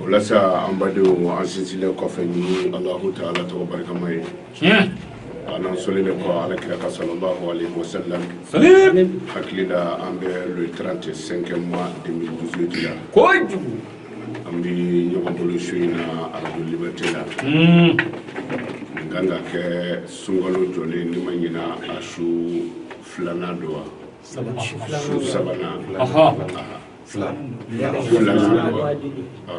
o la sa an badenw an sinsinlen kɔfɛ ni alahu taala tɔgɔ barikama ye an n'an sɔlilen kɔ ala kira kan salallahu alayhi wa sallam hakili la an bɛ le 30 5e mois 2018 la kojugu an bɛ ɲɔgɔn bolo su in na arajo liberté la nin kan ka kɛ sunkalo jɔlen ni n ma ɲina a su filanan don wa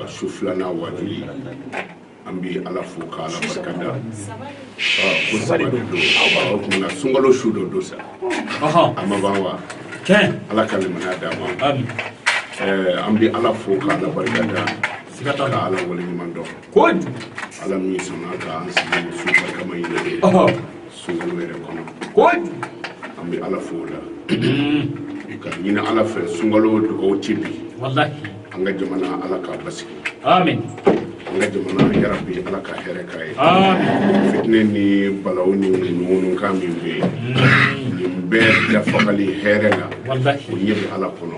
su filanan waajuli an bɛ ala fo k' ala barika da ko sabali don tuma sunkalo su dɔ don sa a ma ban wa ala ka limaniya d'an ma an bɛ ala fo k' ala barika da siga t'a la ka ala wale ɲuman dɔn ala min sɔnna k'an sigi su barikama in na sunkalo yɛrɛ kɔnɔ kojugu an bɛ ala fo o la k'a ɲini ala fɛ sunkalo dugawu tɛ bin walahi an ka jamana ala k'a basigi amin an ka jamana yarabi ala ka hɛrɛ k'a ye amin fitinɛ ni balaw ni ŋunuŋunukan min bɛ yen nin bɛɛ dafagali hɛrɛ la walahi o ɲɛ bɛ ala kɔnɔ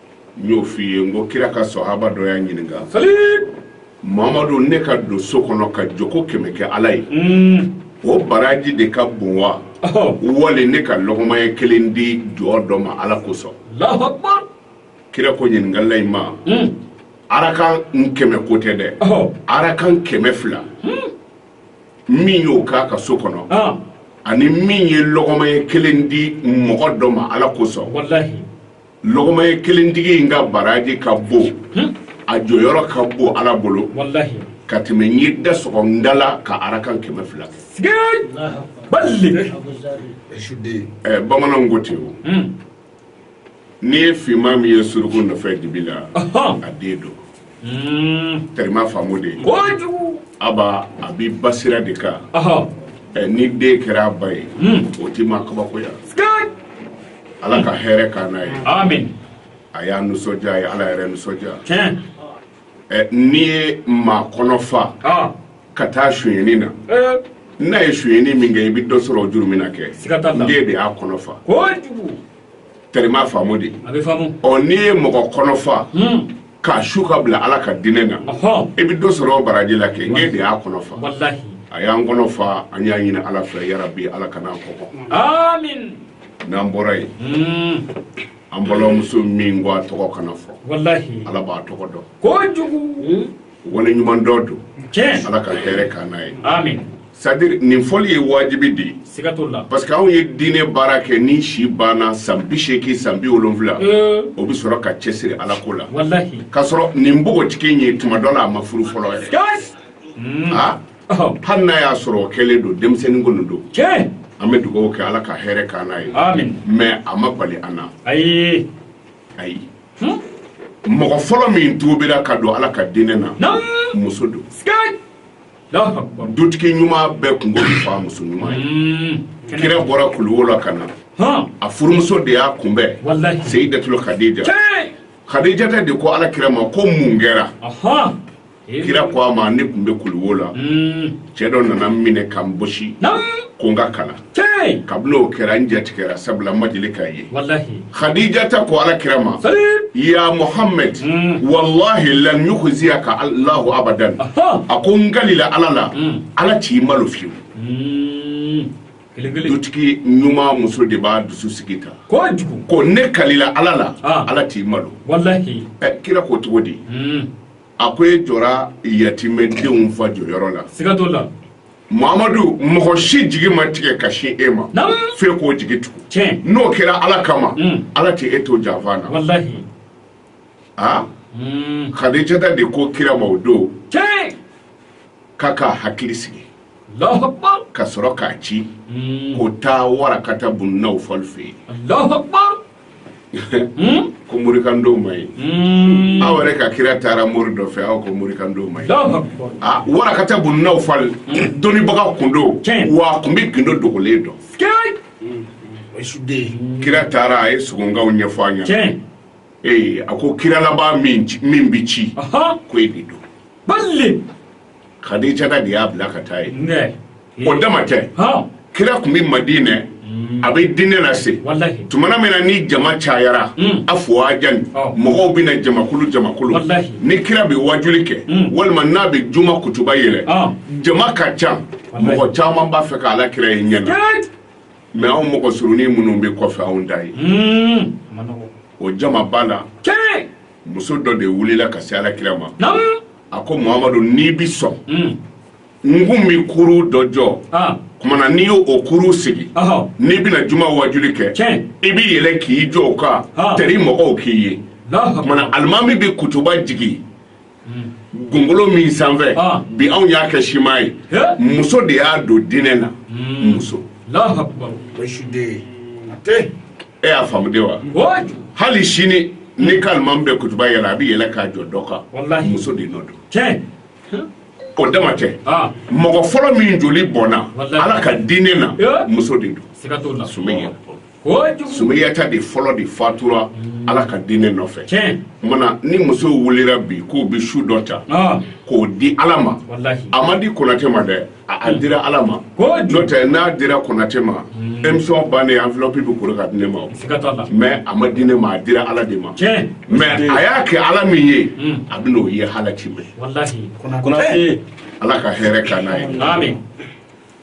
n y'o f'i ye n ko kira ka sɔhaba dɔ y'a ɲininka mamadu ne ka don so kɔnɔ ka jɔko kɛmɛ kɛ ala ye mm. o baraji de ka bon wa oh. wali ne ka lɔgɔma ɲɛ kelen di jɔn dɔ ma ala kosɔn kira ko ɲininkala in ma mm. arakan kɛmɛ ko tɛ dɛ oh. arakan kɛmɛ fila mm. min y'o k'a ka so kɔnɔ ah. ani min ye lɔgɔma ɲɛ kelen di mɔgɔ dɔ ma ala kosɔn lɔgɔma ɲɛ kelentigi in ka baraji ka bon hmm? a jɔyɔrɔ ka bon ala bolo ka tɛmɛ n ye da sɔgɔ n da la ka arakan kɛmɛ fila kɛ eh, bamananw ko ten o hmm. n'i ye finman min ye suruku nɔfɛ dibi la a den don terima faamu dɛ a ba a bɛ ba sira de kan ni den kɛra a ba ye o tɛ maa kabakoya ala ka hɛrɛ k'an n'a ye a y'an nisɔndiya a ye ala yɛrɛ nisɔndiya n'i ye maa kɔnɔ fa ka taa sonyɛni na n'a ye sonyɛni min kɛ i bɛ dɔ sɔrɔ o jurumun na kɛ e de y'a kɔnɔ fa terima faamu dɛ a bɛ faamu ɔ n'i ye mɔgɔ kɔnɔ fa hmm. k'a su k'a bila ala ka diinɛ na i bɛ dɔ sɔrɔ o baraji la kɛ n k'e de y'a kɔnɔ fa a y'an kɔnɔ fa an y'a ɲini ala fɛ yarabi ala kana an kɔngɔ amin n'an bɔra yen hmm. an balimamuso min ko a tɔgɔ kana fɔ ala b'a tɔgɔ dɔn kojugu hmm. wale ɲuman dɔ don ala ka hɛrɛ k'an n'a ye c'est-à-dire nin fɔli ye wajibi de ye parce que anw ye diinɛ baara kɛ ni si banna san bi seegin san bi wolonfila euh. o bɛ sɔrɔ ka cɛsiri ala ko la k'a sɔrɔ nin npogotigi in ye tuma dɔ la a ma furu fɔlɔ yɛrɛ hmm. ah? oh. hali n'a y'a sɔrɔ o kɛlen don denmisɛnnin kɔni don an bɛ dugawu kɛ ala ka hɛrɛ k'an n'a ye mais a ma bali an na ayi mɔgɔ fɔlɔ min tubira ka don ala ka diinɛ na muso don dutigi ɲuman bɛɛ kun fa muso ɲuman ye kira bɔra kuluwo la ka na a furumuso de y'a kunbɛn seyidatul kadija kadijata de ko ala kira ma ko mun kɛra kira ko a ma ne kun bɛ kuluwo la hmm. cɛ dɔ nana n minɛ ka n bɔsi ko n ka kalan kabini o kɛra n jatigɛra sabula n ma deli k'a ye hadijata ko ala kira ma ya muhammed hmm. walahi lan yukhziyaka allahu abadan a ko n kalila ala la hmm. ala t'i malo fiyewu dutigi ɲuman muso de b'a dusu sigi ta ko ne kalila ala la ala t'i malo kira ko cogo di a ko e jɔra yatimɛdenw fa jɔyɔrɔ la siga t'o la mamadu mɔgɔ si jigi ma tigɛ ka sin e ma Naamu. f'e k'o jigi tugu Tiɲɛ. n'o kɛra ala kama Mm. ala tɛ e to janfa na walahi a Mm. kadijata de ko kira ma o don tiɲɛ k'a ka hakili sigi alahu akbar ka sɔrɔ k'a ci Mm. ko taa warakata bun nawfal fɛ yen alahu akbar Hmm? ko mori kan don man ɲi hmm. aw yɛrɛ ka kira taara mori dɔ fɛ aw ko mori kan don man ɲi ah, warakata bun nawfal hmm. dɔnnibaga kun don wa a kun bɛ gindo dogolen dɔn kira taara a ye sogonkaw ɲɛfɔ a ɲɛna ee a ko kira laban min bɛ ci ko e de don kadijata de y'a bila ka taa yen o dama tɛ kira kun bɛ madinɛ mm. a bɛ diinɛ lase tumana min na ni jama cayara mm. afuwajan mɔgɔw bɛ na jamakulu jamakulu ni kira bɛ wajuli kɛ mm. walima n'a bɛ juma kutuba yɛlɛ jama ka ca mɔgɔ caman b'a fɛ ka ala kira ye ɲɛ na mais anw mɔgɔ surunin minnu bɛ kɔfɛ anw t'a ye o jama ba la muso dɔ de wulila ka se ala kira ma a ko mamadu n'i bi sɔn hmm. n kun bi kuru dɔ jɔ ah. kumana n'i y'o kuru sigi n'i bɛna juma wajuli kɛ i b'i yɛlɛ k'i jɔ o kan ah. tɛri mɔgɔw k'i ye kumana alimami bɛ kutuba jigin hmm. gongolo min sanfɛ ah. bi anw y'a kɛ siman ye muso de y'a don diinɛ na hmm. muso e y'a faamu de wa hali sini n'i ka alimami bɛ kutuba yɛlɛ a bɛ yɛlɛ k'a jɔ dɔ kan muso de nɔ don o dama tɛ mɔgɔ fɔlɔ min joli bɔnna ala ka diinɛ na muso de don sumeya sumeyata de fɔlɔ de fatura ala ka diinɛ nɔfɛ mana ni muso wulila bi k'o bɛ su dɔ ta k'o di ala ma a ma di Konatɛ ma dɛ a dira ala ma n'o tɛ n'a dira Konatɛ ma hmm. émission bannen enveloppe bɛ kuru ka di ne ma mais a ma di ne ma a dira ala de ma mais a y'a kɛ ala min ye hmm. a bɛn'o ye alikiyama ala ka hɛrɛ k'an n'a ye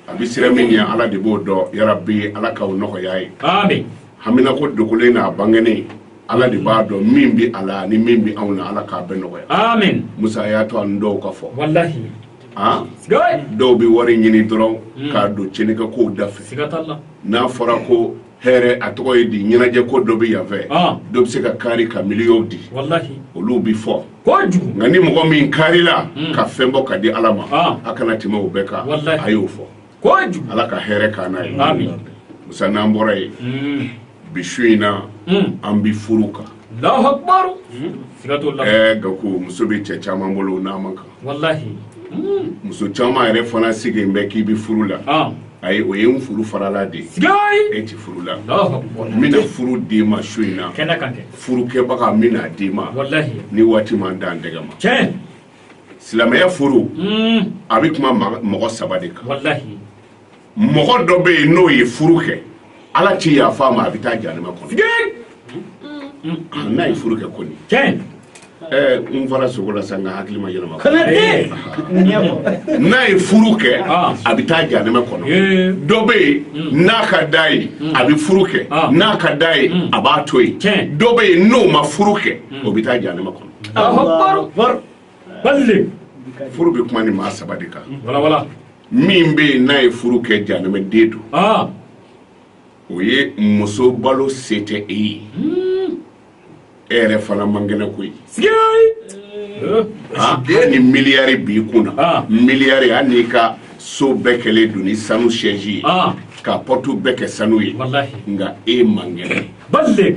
a bɛ sira min ye ala de b'o dɔn yarabi ala k'aw nɔgɔya ye hamina ko dogolen n'a bangenen Ala de b'a dɔn min bɛ a la ani min bɛ anw na Ala k'a bɛɛ nɔgɔya aamine Musa a y'a to ani dɔw ka fɔ walahi an sikeyii dɔw bɛ wari ɲini dɔrɔn unnn k'a don cɛnikɛ kow da fɛ siga t'a la n'a fɔra ko hɛrɛ a tɔgɔ ye di ɲɛnajɛ ko dɔ bɛ yan fɛ ɔɔn dɔ bɛ se ka kari ka miliyɔnw di walahi olu bɛ fɔ kojugu nka ni mɔgɔ min karila unnn ka fɛn bɔ ka di Ala ma ɔɔn a kana tɛmɛ o bɛɛ kan walahi a y'o fɔ ala ka hɛrɛ k'an n'a ye musa n'an bɔra yen mm. bi su in na mm. an bi furu kan eh, nka ko muso bɛ cɛ caman bolo n'a man kan mm. muso caman yɛrɛ fana sigilen bɛ k'i bɛ furu la ah. ayi o ye n furu farala de ye e ti furu la n bɛna furu d'i ma su in na furukɛbaga n bɛna d'i ma ni waati ma n dan tɛgɛ ma silamɛya furu a bɛ kuma mɔgɔ saba de kan mɔgɔ dɔ bɛ yen n'o ye furu kɛ ala tɛ yafa a ma a bɛ taa janɛmɛ kɔnɔ n'a ye furu kɛ kɔni n farisogo la sa n ka hakili ma yɛlɛma n'a ye furu kɛ ah. a bɛ taa janɛmɛ kɔnɔ dɔ bɛ yen hmm. n'a ka d'a ye hmm. a bɛ furu kɛ ah. n'a ka d'a ye hmm. a b'a to yen dɔ bɛ yen n'o ma furu kɛ o bɛ taa janɛmɛ kɔnɔ furu bɛ kuma nin maa saba de kan min bɛ yen n'a ye furu kɛ janɛmɛ den don ah. o ye muso balo se tɛ e ye hmm. e yɛrɛ fana man kɛnɛ koyi eh. ah, e ni miliyari b'i kun na ah. miliyari hali n'i ka so bɛɛ kɛlen don ni sanu sɛji ye ka porte bɛɛ kɛ sanu ye nka e man kɛnɛ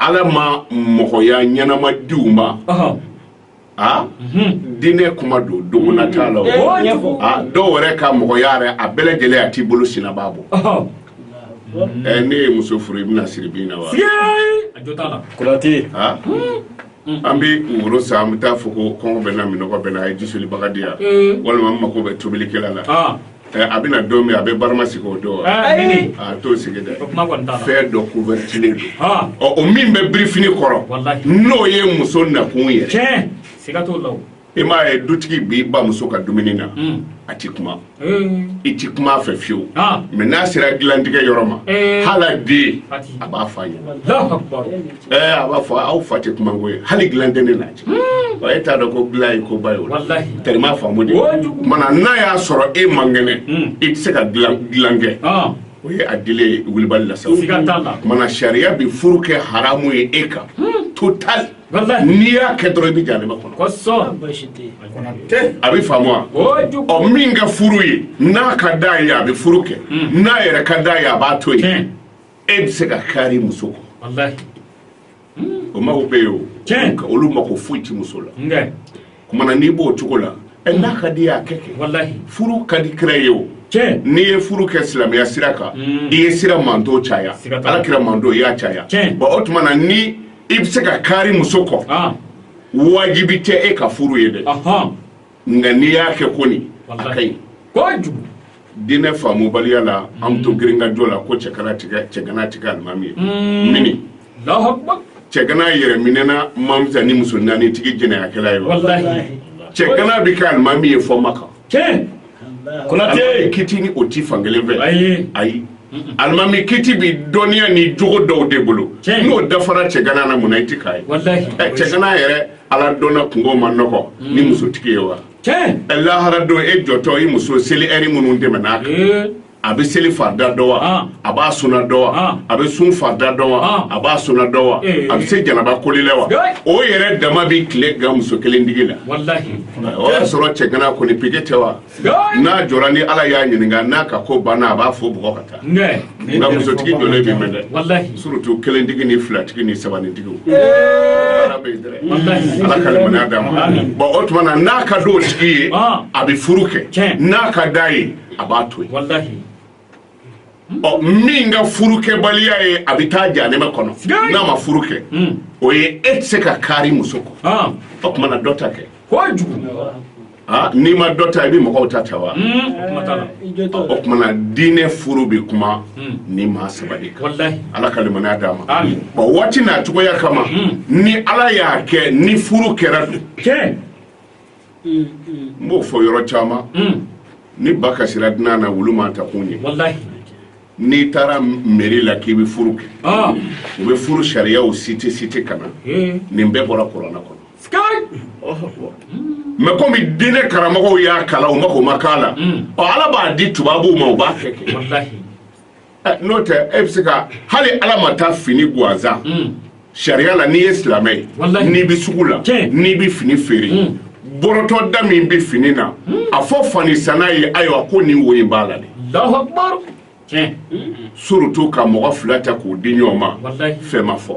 ala ma mɔgɔya ɲɛnama di u ma a diinɛ kuma don dogona t'a la dɔw yɛrɛ ka mɔgɔya yɛrɛ a bɛɛ lajɛlen a t'i bolo sinabaa bɔ ɛ n'e ye muso furu i bɛn'a siri bin na wa an bɛ woro san an bɛ taa fɔ ko kɔngɔ bɛ n na minnɔgɔ bɛ n na a ye jisolibaga di yan walima n mako bɛ tobilikɛla la A bɛna don min a bɛ barama sigi o don a t'o sigi dɛ fɛn dɔ couvertilen don ɔ o min bɛ birifini kɔrɔ n'o ye muso nakun yɛrɛ i m'a ye dutigi b'i ban muso ka dumuni na a tɛ kuma i tɛ kuma a fɛ fiyewu mɛ n'a sera dilantigɛ yɔrɔ ma hali den a b'a f'a ye ɛɛ a b'a fɔ aw fa tɛ kuma ko ye hali dilan tɛ ne n'a cɛ hmm. wa e t'a dɔn ko dilan ye ko ba ye o tɛrɛma faamu de kumana n'a y'a sɔrɔ e man kɛnɛ hmm. i tɛ se ka dilan kɛ ah. o ye a dile ye wulibali la sa kumana sariya bɛ furu kɛ haramu ye e kan hmm. total n'i y'a kɛ dɔrɔn i bɛ janɛma kɔnɔ a bɛ faamu wa ɔ min ka furu ye n'a ka d'a ye a bɛ furu kɛ n'a yɛrɛ ka d'a ye a b'a to yen e bɛ se ka kari muso kɔ o mɔgɔ bɛ yen o olu mako foyi ti muso la kumana n'i b'o cogo la ɛ n'a ka d'i ye a kɛ kɛ furu ka di kira ye o n'i ye furu kɛ silamɛya sira kan mm. i ye kira manton caya ala kira manton i y'a caya bon o tuma na ni i bɛ se ka kari muso kɔ ah. wajibi tɛ e ka furu ye dɛ nka n'i y'a kɛ kɔni a ka ɲi kojugu diinɛ faamubaliya la an bɛ to girinkajɔ la ko cɛgana ti kɛ cɛgana ti kɛ alimami ye mm. mɛ ni cɛgana yɛrɛminɛna man fisa ni muso naani tigi jɛnɛyakɛla ye wa cɛgana bɛ kɛ alimami ye fo maka kɔnɔ dɛ kiti ni o ti fankelen fɛ ayi ayi alimami kiti bi dɔnniya ni jogo dɔw de bolo n'o dafara cɛgana na mun na i ti k'a ye cɛgana yɛrɛ aladɔnna kunko man nɔgɔn ni hmm. musotigi ye wa lahara don e jɔtɔ i muso seli ɛri minnu tɛmɛna a kan eh. a bɛ seli farida dɔn wa ah. a b'a suna dɔn wa ah. a bɛ sun farida dɔn wa ah. a b'a suna dɔn wa eh. a bɛ se janaba koli la wa o yɛrɛ dama bɛ tile gan muso kelen tigi la o y'a sɔrɔ cɛgana kɔni pike tɛ wa n'a jɔra ni ala y'a ɲininka n'a ka ko banna a b'a fɔ bɔn ko a ka taa nka musotigi jɔlen bɛ mɛn dɛ surtout kelentigi ni filatigi ni sabanitigiw ala ka limaniya d'a ma bɔn o tuma na n'a ka d'o tigi ye a bɛ furu kɛ n'a ka d'a ye a b'a to yen ɔ min ka furukɛbaliya ye a bɛ taa janɛmɛ kɔnɔ n'a ma furu kɛ hmm. o ye e tɛ se ka kaari muso kɔ ah. o tuma na dɔ ta kɛ ah, n'i ma dɔ ta i bɛ mɔgɔw ta ta wa hmm. o tuma na diinɛ furu bɛ kuma hmm. nin maa saba de kan ala ka limaniya d'a ma bɔn waati n'a cogoya kama ni ala y'a kɛ ni furu kɛra don n b'o fɔ yɔrɔ caman ni ba kasira dunan na wulu ma ta kun ye n'i taara meri la k'i bɛ furu kɛ ah. u bɛ furu sariyaw site site ka na nin bɛɛ bɔra kurana kɔnɔ mɛ komi diinɛ karamɔgɔw y'a kalan u mako ma k'a la ala b'a di tubabuw ma u b'a kɛ kɛ n'o tɛ e bɛ se ka hali ala ma taa fini gansan mm. sariya la n'i ye silamɛ ye n'i bɛ sugu la n'i bɛ fini feere mm. bɔrɔtɔ da min bɛ fini na mm. a fɔ fani sanna ye ayiwa ko nin wo in b'a la de surutu ka mɔgɔ fila ta k'u di ɲɔgɔn ma fɛn ma fɔ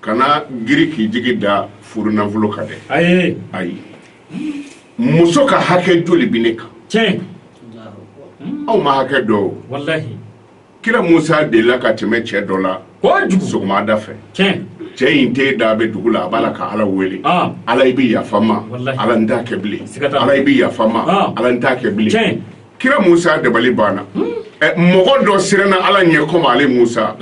kana girin k'i jigi da furu nafolo kan dɛ ayi ayi muso ka hakɛ joli bɛ ne kan cɛ anw ma hakɛ dɔn kira musa delila ka tɛmɛ cɛ dɔ la sɔgɔmada fɛ cɛ in tenda bɛ dugu la a b'a la ka ala wele ala i bɛ yafa n ma ala n t'a kɛ bilen ala i bɛ yafa n ma ala n t'a kɛ bilen kira musa dabali banna mɔgɔ dɔ siranna ala ɲɛ komi ale musa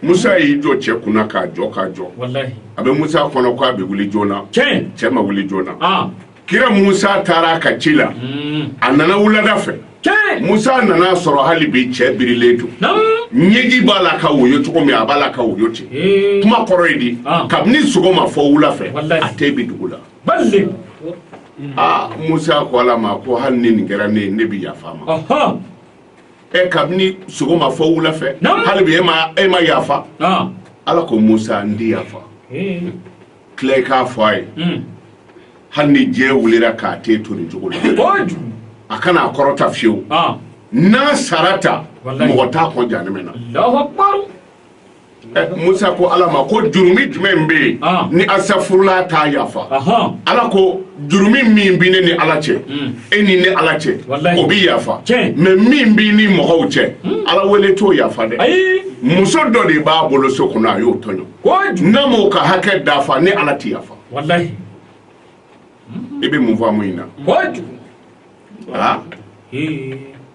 Musa y'i jɔ cɛ kunna k'a jɔ k'a jɔ walahi a bɛ Musa kɔnɔ k'a bɛ wuli joona tiɲɛ cɛ ma wuli joona aa kira Musa taara a ka ci la uun a nana wulada fɛ tiɲɛ Musa nan'a sɔrɔ hali bi cɛ birilen don naamu ɲɛji b'a la ka woyo cogo min a b'a la ka woyo ten ee kuma kɔrɔ ye di Ah. kabini sɔgɔma fɔ wula fɛ Walahi. a ten bi dugu la balik aa Musa ko Ala ma ko hali ni nin kɛra ne ye ne bɛ yafa a ma ɔhɔn ɛ kabini sɔgɔma fɔ wula fɛ hali bi e ma e ma yafa ala ko musa n ti yafa tila i k'a fɔ a ye hmm. hali ni diɲɛ wulira k'a ten to nin cogo la a kana a kɔrɔta fiyewu n'a sara ta mɔgɔ t'a kɔn janɛmɛ na musa ko ala ma ko jurumi jumɛn bɛ yen ah. ni asafurula t'a yafa ala ko jurumi min bɛ ne ni ala cɛ hmm. e ni ne ala cɛ o bɛ yafa mɛ min b'i ni mɔgɔw cɛ hmm. ala wele t'o yafa dɛ muso dɔ de b'a bolo so kɔnɔ a y'o tɔɲɔ n'a m'o ka hakɛ dafa ne ala ti yafa i hmm. e bɛ mun faamu in na ah.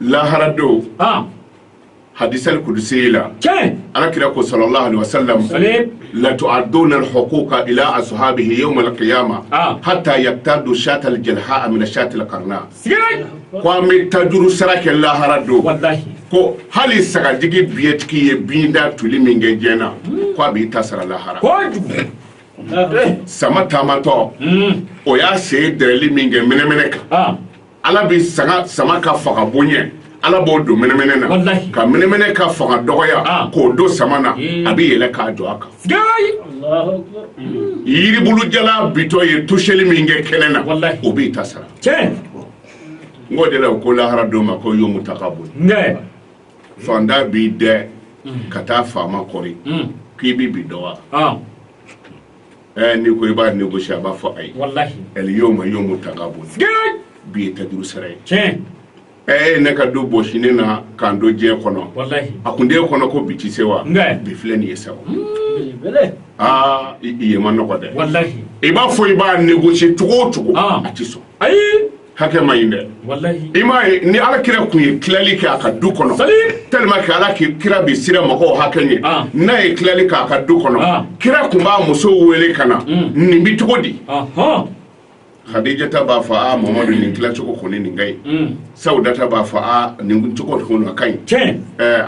lahara don ah. hadisali kudusi la ala kira ko sala latu'addunna huquqa ashabihi yawmal qiyama hatta yaqtadu shatal jalha minas shatil qarna ko an bɛ taa juru sara kɛ lahara don ko hali sagajigi biɲɛtigi ye biɲɛntan tuli min kɛ diɲɛ na ko a bɛ t'a sara lahara sama taamatɔ o y'a sen dɛrɛnli min kɛ mɛnɛmɛnɛ kan ala bɛ se ka sama ka fanga bonya ala b'o don mɛnɛmɛnɛ na ka mɛnɛmɛnɛ ka fanga dɔgɔya ah. k'o don sama na hmm. a bɛ yɛlɛn ka jɔ a kan yiribulu jalan bintɔ ye tosɛli min kɛ kɛnɛ na o b'i ta sara n k'o de la u ko lahara don ma ko yomu tagabun faantan b'i dɛn hmm. ka taa faama kɔri hmm. k'i bi bi dɔgɔya ah. Eh, n'i ko i b'a négocier a b'a fɔ ayi walahi el yoma yomu tagabun bi ye tajuru sara ye tiɲɛ ɛɛ eh, ne ka du bɔsi ne na k'an to diɲɛ kɔnɔ walahi a kun d'e kɔnɔ ko bi ti se wa bi filɛ nin ye sa hmm, aa i ye ma nɔgɔ dɛ walahi i b'a fɔ i b'a négocier cogo o cogo ah. a ti sɔn ayi hakɛ ma ɲi dɛ i m'a ye ni ala kira tun ye tilali kɛ a ka du kɔnɔ tellement que ala kira bɛ siran mɔgɔw hakɛ ɲɛ ah. n'a ye tilali kɛ a ka du kɔnɔ ah. kira tun b'a musow wele ka na mm. nin bɛ cogo di hadijata b'a fɔ a mamadu nin tilacogo kɔni nin ka ɲi mm. sawudata b'a fɔ a nin cogo kɔni a ka ɲi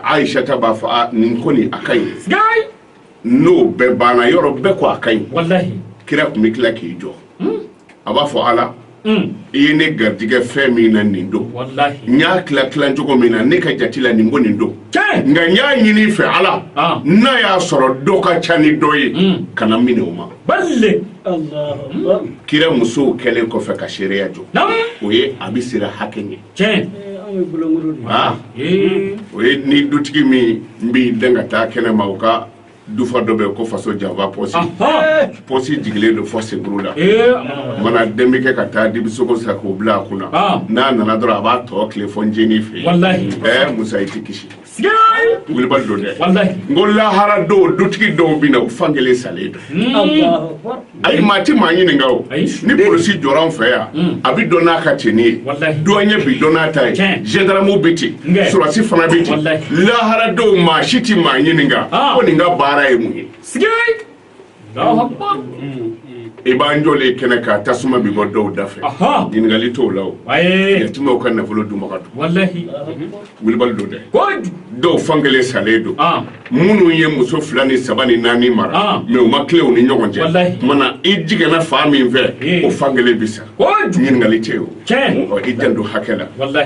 aishata b'a fɔ a nin kɔni a ka ɲi n'o bɛɛ banna yɔrɔ bɛɛ ko a ka ɲi walahi kira tun bɛ tila k'i jɔ hmm? a b'a fɔ ala hmm. i ye ne garijɛgɛ fɛn min na nin don n y'a tila tila cogo min na ne ka jate la nin ko nin don nka n y'a ɲini i fɛ ala ah. n'a y'a sɔrɔ dɔ ka ca ni dɔ ye hmm. kana n minɛ o ma kira musow kɛlen kɔfɛ ka seereya jɔ o ye a bɛ siran hakɛ ɲɛ tiɲɛ o ye ni dutigi min b'i dɛn ka taa kɛnɛ ma u ka dufa dɔ bɛ ko faso janfa pɔsi pɔsi jigilen don fɔ senkuru la mana den bɛ kɛ ka taa dibisogo san k'o bila a kun na n'a nana dɔrɔn a b'a tɔ tile fɔ ncinin fɛ ɛɛ musa i tɛ kisi Wulibali don dɛ n ko lahara don dutigi dɔw bɛ na u fan kelen salen don ayi maa tɛ maa ɲininka o ni polisi jɔra an fɛ yan a bɛ dɔn n'a ka tenue ye douanier bi dɔn n'a ta ye gendarme bɛ ten sɔrɔdasi fana bɛ ten lahara don maa si tɛ maa ɲininka ko nin ka baara ye mun ye i b'an jɔlen kɛnɛ kan tasuma bi bɔ dɔw da fɛ ɲininkali t'o la o yatimaw ka nafolo dunbaga don wulibali don dɛ dɔw fan kelen salen don minnu ye muso fila ni saba ni naani mara mais u ma tilen u ni ɲɔgɔn cɛ mana i jɛngɛnna fan min fɛ o fan kelen bi sa ɲininkali tɛ o i janto hakɛ la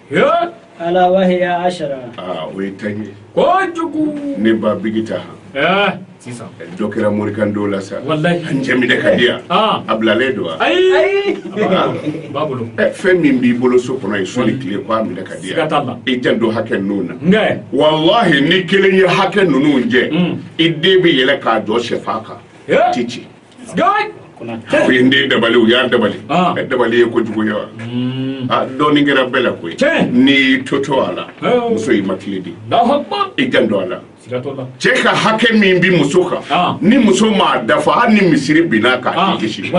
ala wahiya ashara aa o ye tan ye kojugu ne ba bigi ta han sisan dɔ kɛra morikan dɔw la sa walayi an jɛminɛ ka di yan a bilalen don wa ayi b'a bolo fɛn min b'i bolo so kɔnɔ ye sɔli tile ko a minɛ ka di yan i janto hakɛ ninnu na nka walahi ni kelen ye hakɛ ninnu jɛ e de bɛ yɛlɛn ka jɔ sɛfan kan a ti ci u ye n den dabali u y'a dabali ah. ɛ dabali ye kojugu ye wa hmm. ah, dɔɔnin kɛra bɛɛ la koyi n'i y'i to to a la oh. muso y'i matilen de i janto a la cɛ ka hakɛ min bi muso kan ah. ni muso m'a dafa hali ni misiri binna a kan a ti kisi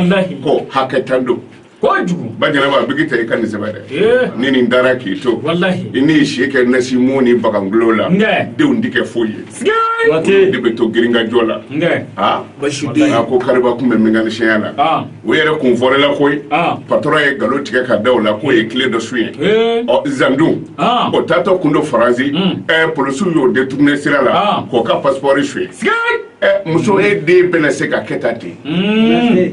ko hakɛ tan don kojugu ba jɛnɛba a bigi tɛ i ka nin sɛbɛn dɛ ni nin taara k'i to walahi i n'i si kɛ nasimu ni bagan golo la nka denw ti kɛ foyi ye sigee den bɛ to girinkajɔ la nka a basiden a ko kariba kun bɛ mekanisiyɛnya la ah. o yɛrɛ kun fɔrɛla koyi ah. patɔrɔn ye ngalon tigɛ ka da o la k'o ye kile dɔ sonyɛ ɔ zan dun ah. o taatɔ kun don faransi hmm. ɛ polisiw y'o deturune sira la k'o ka pasipɔri sonyɛ muso e den bɛna se ka kɛ ta ten hmm.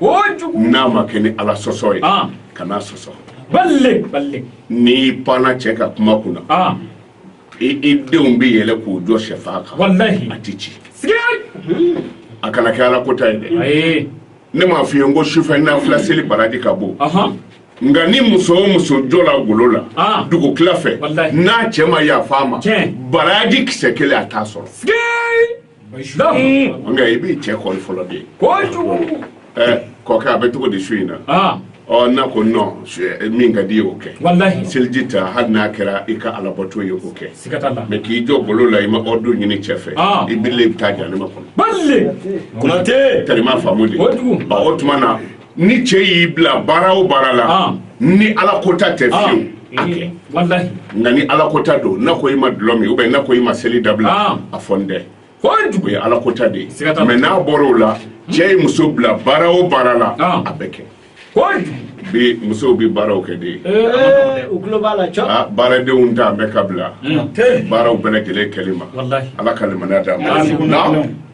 n'a ma kɛ ni ala sɔsɔ ye kan'a sɔsɔ n'i panna cɛ ka kuma kunna i denw bɛ yɛlɛ k'u jɔ shɛfan kan a tɛ ci a kana kɛ ala kota ye dɛ ne m'a f'i ye n ko sufɛ nafila seli baraji ka bon nka ni muso o muso jɔla golo la ah. dugutila fɛ n'a cɛ ma yafa a ma baraji kisɛ kelen a t'a sɔrɔ nka i b'i cɛ kili fɔlɔ de ye kɔkɛ a bɛ cogo di su in na ɔ n'a ko nɔn min ka d'i ye o kɛ seliji ta hali n'a kɛra i ka alabato ye k'o kɛ mɛ k'i jɔ golo la i ma ɔridiri ɲini cɛ fɛ i bi i bɛ taa jahanama kɔnɔ kɔnatɛ tɛri m'a faamu de o tuma na ni cɛ y'i bila baara o baara la ah. ni ala kota tɛ ah. fiyewu a kɛ nka ni ala kota don n'a ko i ma dɔlɔ min ubiyɛn n'a ko i ma seli dabila ah. a fɔ n tɛ o ye ala kota de ye mɛ n'a bɔra o la cɛ ye muso bila baara o baara la a bɛ kɛ bi musow bi baaraw kɛ de eh, u tulo b'a la cɔ ah, baaradenw ta bɛɛ ka bila hmm. baaraw bɛɛ lajɛlen kɛli ma ala ka limaniya d'a ma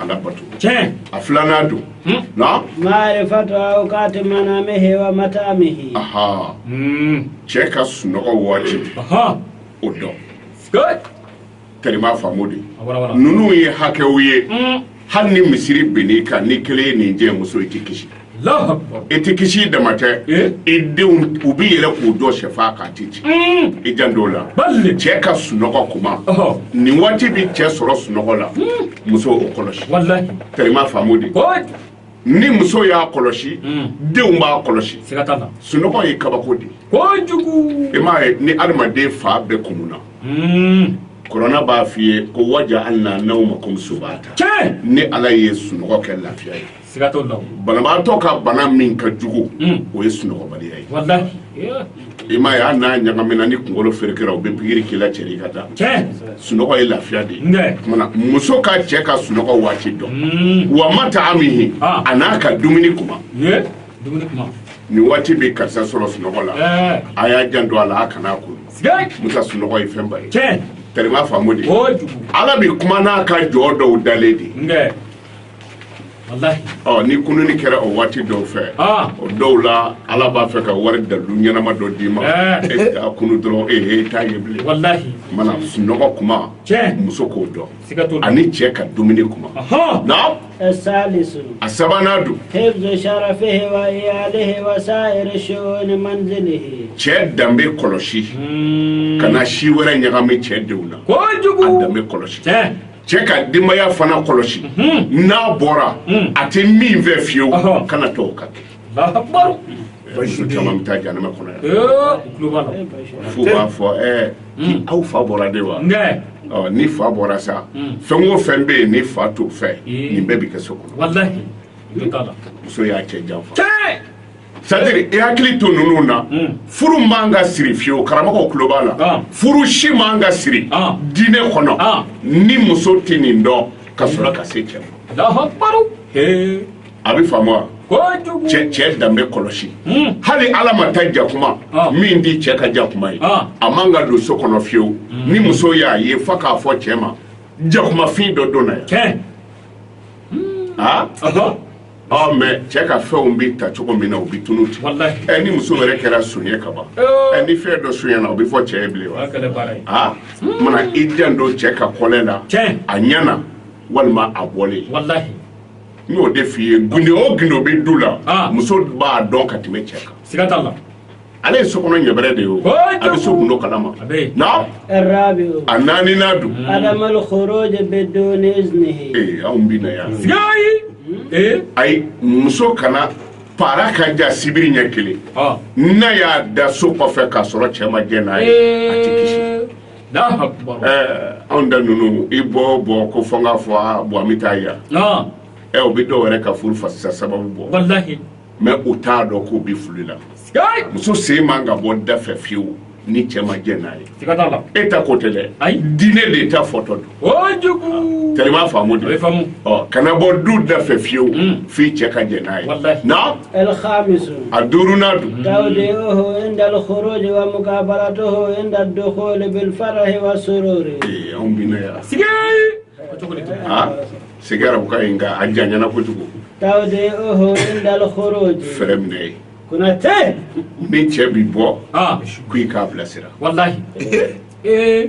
ala bato tiɲɛ a filanan don hmm. na maarifatu awkati manamihi wa mataamihi aha hmm. cɛ ka sunɔgɔ waati o dɔn tɛri m'a faamu de ninnu ye hakɛw ye hmm. hali ni misiri binn'i kan ni kelen ye nin jɛ muso i tɛ kisi i tɛ kisi dama tɛ i denw u bɛ yɛlɛ k'u jɔ shɛfan kan a tɛ ci i janto a la cɛ ka sunɔgɔ kuma ni waati bɛ cɛ sɔrɔ sunɔgɔ la muso o kɔlɔsi tɛri m'a faamu de ni muso y'a kɔlɔsi denw b'a kɔlɔsi sunɔgɔ ye kabako di i m'a ye ni adamaden fa bɛ kun na kuranɛ b'a f'i ye ko wa jaalna nawmakum subata ni ala ye sunɔgɔ kɛ lafiya ye banabaatɔ ka bana min ka jugu o ye sunɔgɔbaliya ye i m'a ye n'a ɲagamina ni kunkolo ferekera u bɛ pikiri k'i la cɛ i ka taa sunɔgɔ ye lafiya de ye muso ka cɛ ka sunɔgɔ waati dɔn wa mataamihi a n'a ka dumuni kuma nin waati bɛ karisa sɔrɔ sunɔgɔ la a y'a janto a la a kana a kunun sa sunɔgɔ ye fɛnba ye terima a faamu de ala bɛ kuma n'a ka jɔn dɔw dalen de ɔ ni kununi kɛra o waati dɔw fɛ o dɔw la ala b'a fɛ ka wari dalu ɲɛnama dɔ d'i ma e kunun dɔrɔn e t'a ye bilen mana sunɔgɔ kuma muso k'o dɔn ani cɛ ka dumuni kuma na a sabanan don cɛ danbe kɔlɔsi kana si wɛrɛ ɲagami cɛ denw na a danbe kɔlɔsi cɛ ka denbaya fana kɔlɔsi n'a bɔra a tɛ min fɛ fiyewu kana to u ka kɛ bayisu caman bɛ taa janama kɔnɔ yan f'u b'a fɔ ɛɛ aw fa bɔra de wa ɔ ni fa bɔra sa fɛn o fɛn bɛ yen ni fa t'o fɛ nin bɛɛ bɛ kɛ so kɔnɔ muso y'a cɛ janfa sadiri i hakili to ninnu na hmm. furu man ka siri fiyewu karamɔgɔw tulo b'a la ah. furu si man ka siri ah. diinɛ kɔnɔ ah. ni muso tɛ nin dɔn ka sɔrɔ ka se cɛ ma a bɛ faamu wa cɛ cɛ danbe kɔlɔsi hmm. hali ala ma ta jakuma min tɛ cɛ ka jakuma ye a man ka don so kɔnɔ fiyewu hmm. ni muso y'a ye fo k'a fɔ cɛ ma jakumafin dɔ donna yan mɛ cɛ ka fɛnw bɛ ta cogo min na u bɛ tunu ten ni muso wɛrɛ kɛra son ye kaban ni fɛn dɔ sonyana o bɛ fɔ cɛ ye bilen wa aa mana i janto cɛ ka kɔlɛ la a ɲɛna walima a bɔlen n y'o de f'i ye gundo o gundo bɛ du la muso b'a dɔn ka tɛmɛ cɛ kan ale ye so kɔnɔ ɲɛbɛrɛ de ye o a bɛ so gundo kalama na a naaninan don anw bɛ na yan hmm? ayi muso kana para ka ja sibiri ɲɛ kelen n'a y'a da so kɔfɛ k'a sɔrɔ cɛ ma jɛ n'a ye a tɛ kisi anw da ninnu i bɔ bɔ ko fɔ n k'a fɔ bon an bɛ taa yan ɛ o bɛ dɔw wɛrɛ ka furu fasisa sababu bɔ mɛ u t'a dɔn k'u bɛ fili la muso sen man ka bɔ da fɛ fiyewu ni cɛ ma jɛ n'a ye e ta ko tɛ dɛ diinɛ de ta fɔtɔ don terima a faamu de kana bɔ du da fɛ fiyewu hmm. f'i cɛ ka jɛ n'a ye na a duurunan don anw bɛ na yan c'est que arabukan ye nka a janyana kojugu tawdi'uhu inda al-khuruj fɛrɛ minɛ ye kunate ni cɛ bi bɔ Ah, ko i k'a bilasira wallahi. Eh,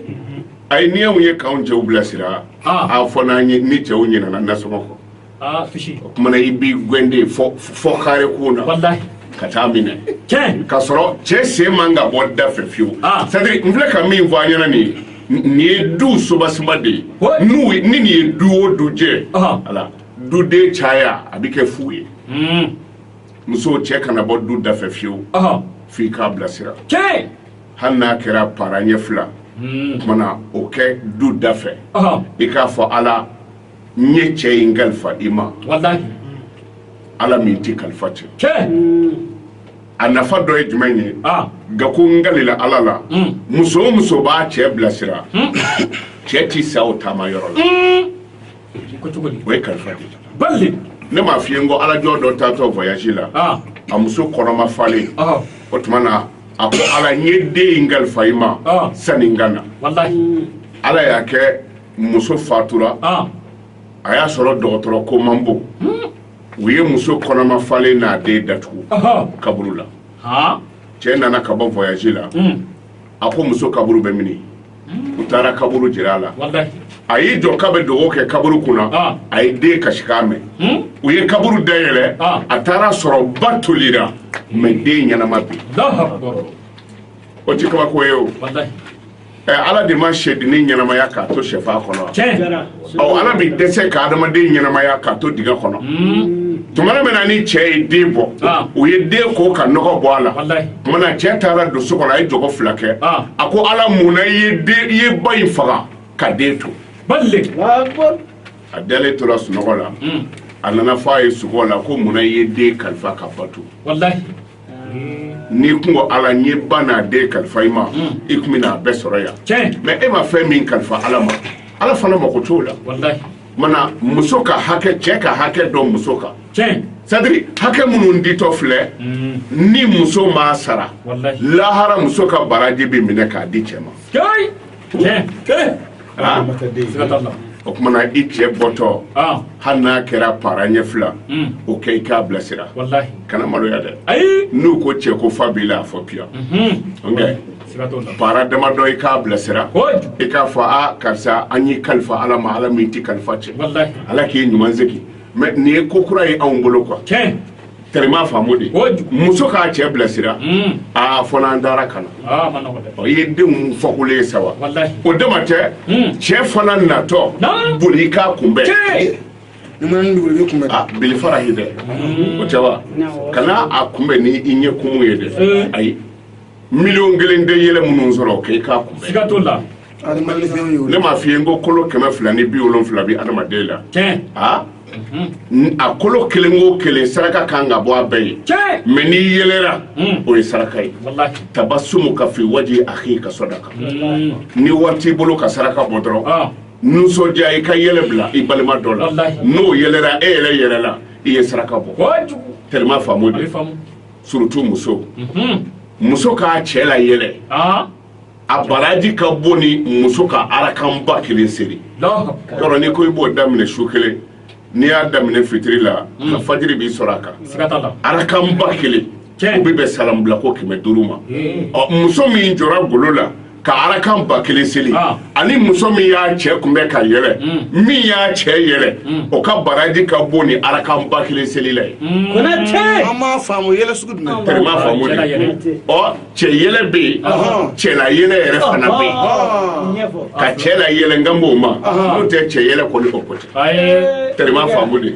a ye ni aw ye k'aw cɛw bilasira Ah. a fɔ n'an ye ni cɛw ɲinana nasɔngɔ kɔ ah, fishi. o kumana i b'i gwɛn de fo fo kare kun na Wallahi. ka taa minɛ Tiɲɛ. k'a sɔrɔ cɛ sen man ka bɔ da fɛ fiyewu Ah. c'est à dire n filɛ ka min fɔ an ɲɛna nin ye nin ye du soubassement de ye n'u ni nin ye du o du jɛ ala duden caya a bɛ kɛ fu ye hmm. musow cɛ kana bɔ du da fɛ fiyewu f'i k'a bilasira hali n'a kɛra para ɲɛ fila hmm. kumana o kɛ du da fɛ i k'a fɔ ala n ye cɛ in kalifa i ma ala min tɛ kalifa cɛn a nafa dɔ ye jumɛn ye nka ko n kalila ala la muso o muso b'a cɛ bilasira cɛ tɛ sa o taama yɔrɔ la o ye kalifa de ne m'a f'i ye ko ala jɔn dɔ taatɔ voyage la a muso kɔnɔma falen o tuma na a ko ala n ye den in kalifa i ma sani n ka na ala y'a kɛ muso fatura a y'a sɔrɔ dɔgɔtɔrɔ ko man bon u ye muso kɔnɔma falen n'a den datugu kaburu la cɛ nana ka bɔ voyage la hmm. a ko muso kaburu bɛ mini hmm. u taara kaburu jira a la a y'i jɔ k'a bɛ dugawu kɛ kaburu kunna ah. a ye den kasikan mɛn hmm? u ye kaburu dayɛlɛ ah. a taara sɔrɔ ba tolira mais den ɲɛnama bi o ti kabako ye o ɛ ala de ma sɛdennin ɲɛnamaya k'a to sɛfan kɔnɔ ɔ ala bɛ dɛsɛ ka adamaden ɲɛnamaya k'a to dingɛ kɔnɔ tuma min na ni cɛ ye den bɔ ah. u ye den ko ka nɔgɔ bɔ a la tuma na cɛ taara don so kɔnɔ a ye jɔgɔ fila kɛ ah. a ko ala mun na i ye den i ye ba in faga ka den to a dalen tora sunɔgɔ la hmm. a nana fɔ a ye sugo la ko mun na i ye den kalifa ka ba to n'i kun ko ala n ye ba n'a den kalifa i ma hmm. i kun bɛna a bɛɛ sɔrɔ yan mais e ma fɛn min kalifa ala ma ala fana mako t'o la mana muso ka hakɛ cɛ ka hakɛ don muso kan c'est à dire hakɛ minnu ditɔ filɛ hmm. ni muso m'a sara lahara muso ka baraji bɛ minɛ k'a di cɛ ma tiɲɛ kelen aa siga t'a la o kumana i cɛ bɔtɔ aa hali n'a kɛra para ɲɛ fila Mm. o kɛ i k'a bilasira walahi kana maloya dɛ ayi n'u ko cɛ ko fa b'i la a fɔ piya Mhm. nka siga t'o la para damadɔ i k'a bilasira kojugu i k'a fɔ a karisa an y'i kalifa ala ma ala min tɛ kalifa cɛn walahi ala k'i ɲuman segin mais nin ye ko kura ye anw bolo quoi tiɲɛ tellement faamu de muso k'a cɛ bilasira hmm. aa fɔ n'an taara ka ah, na ɔ i ye denw fɔkolo ye sa wa o dama tɛ hmm. cɛ fana natɔ boli i k'a kunbɛn ah, belefara ye dɛ hmm. o tɛ wa kana a kunbɛn ni i ɲɛ kumu ye dɛ ayi miliyɔn kelen de yɛlɛ minnu sɔrɔ k'i k'a kunbɛn siga t'a la ne m'a f'i ye n ko kolo kɛmɛ fila ni bi wolonfila bi adamaden la a a kolo kelen o kelen saraka kan ka bɔ a bɛɛ ye mɛ n'i yɛlɛra hmm. o ye saraka ye tabasumuka fi waji akika sadaka hmm. ni wari t'i bolo ka saraka bɔ dɔrɔn ah. nisɔndiya i ka yɛlɛ bila i balima dɔ la n'o yɛlɛra e yɛrɛ yɛrɛ la i ye saraka bɔ tellement faamu de surtout muso muso k'a cɛ la yɛlɛ a baraji ka bon ni muso ka arakanba kelen seri yɔrɔ ni ko i b'o daminɛ su kelen n'i y'a daminɛ fitiri la ka fajiri b'i sɔrɔ a kan arakanba kelen o bɛ bɛn salamu bila ko kɛmɛ duuru ma ɔ muso min jɔra golo la ka arakan ba kelen seli ah. ani muso min y'a cɛ kunbɛn ka yɛlɛ hmm. min y'a cɛ yɛlɛ hmm. o ka baraji ka bon ni arakan ba kelen selila ye hmm. an m'a faamu yɛlɛ sugu jumɛn tɛrɛ m'a faamu de ɔ cɛ yɛlɛ bɛ yen cɛ la yɛlɛ yɛrɛ fana bɛ yen ka cɛ la yɛlɛ n kan b'o ma n'o tɛ cɛ yɛlɛ kɔni o ko tɛ tɛrɛ m'a faamu de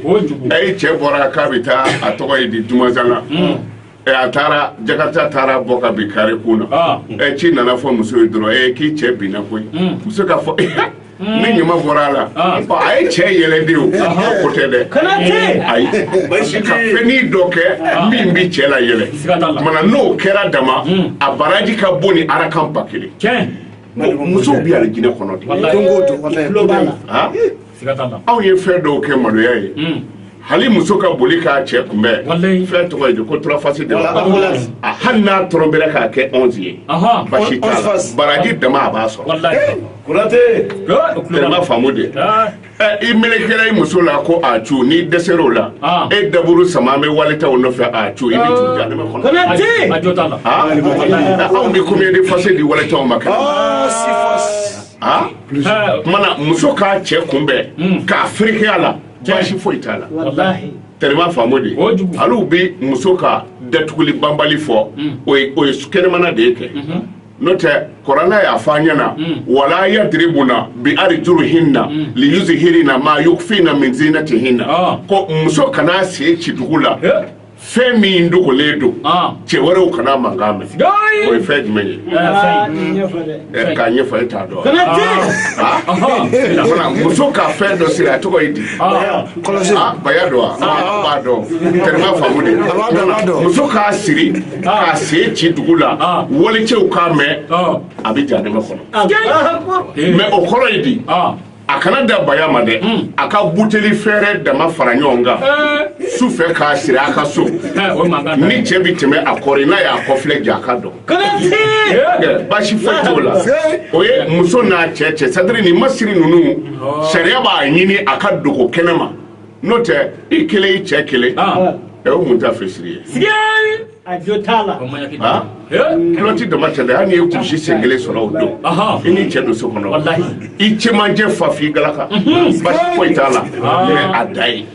ayi cɛ bɔra k'a bɛ taa a tɔgɔ ye di dumazan na ɛ a taara jakarta taara bɔ ka bin kare kun na Ah. ɛ ci nana fɔ muso ye dɔrɔn ɛ k'i cɛ binna koyi muso k'a fɔ ni ɲuman bɔra a la Ah. Ɔ, a ye cɛ yɛlɛ de o ko tɛ dɛ Kana tɛ. ayi Basi ka tɛ. fɛnnin dɔ kɛ min bi cɛ la yɛlɛ Siga t'a la. mana n'o kɛra dama a baraji ka bon ni arakan ba kelen tiɲɛ musow bi alijinɛ kɔnɔ de Wallahi. Don o don, wallahi. I tulo b'a la. Ah. aw ye fɛn dɔw kɛ maloya ye hmm. hali muso ka boli k'a cɛ kunbɛn fɛn tɔgɔ ye ko turafasi de hali n'a tɔrɔ bɛ k'a kɛ onze ye basi baraji dama a b'a sɔrɔ faamu de ah. i melekera i muso la ko a cu n'i dɛsɛra o la ah. e daburu sama bɛ walitaw nɔfɛ a cu i bɛ anw bɛ combien de fase di walitaw ma a mana muso k'a cɛ kunbɛn hmm. ka fereke a la baasi foyi t'a la tellement faamu de hali bɛ muso ka datuguli banbali fɔ hmm. o ye kɛnɛmana de ye kɛ mhm. n'o tɛ kuranɛ y'a fɔ an ɲɛna hmm. wala yadiribuna bi arijulihinna liyusihirina maa yufina min zinatihinna ah. ko muso kana sen ci dugu la fɛn min dogolen don cɛ wɛrɛw kana mankan mɛn o ye fɛn jumɛn ye k'a ɲɛfɔ e t'a dɔn muso ka fɛn dɔ siri a tɔgɔ ye di baya don wa b'a dɔn tɛnɛnba faamu de muso k'a siri k'a sen ci dugu la walicɛw k'a mɛn a bɛ jahanama kɔnɔ mais o kɔrɔ ye di a kana da baya ma dɛ hmm. a ka buteli fɛrɛ dama fara ɲɔgɔn kan eh. su fɛ k'a siri a ka so eh, ni cɛ bi tɛmɛ a kɔrɔ n'a y'a kɔfilɛ ja a ka dɔn eh, basi foyi t'o la o ye muso n'a cɛ cɛ c'est-à-dire nin masiri ninnu oh. sariya b'a ɲini a ka dogo kɛnɛ ma n'o tɛ i kelen i cɛ kelen ah. o ye mun taafe siri ye a jo t'a la kiloti dama tɛ dɛ hali n'i ye kulusi sen kelen sɔrɔ o don i ni cɛ don so kɔnɔ i cɛmancɛ fa f'i galaka basi foyi t'a la mais a da ye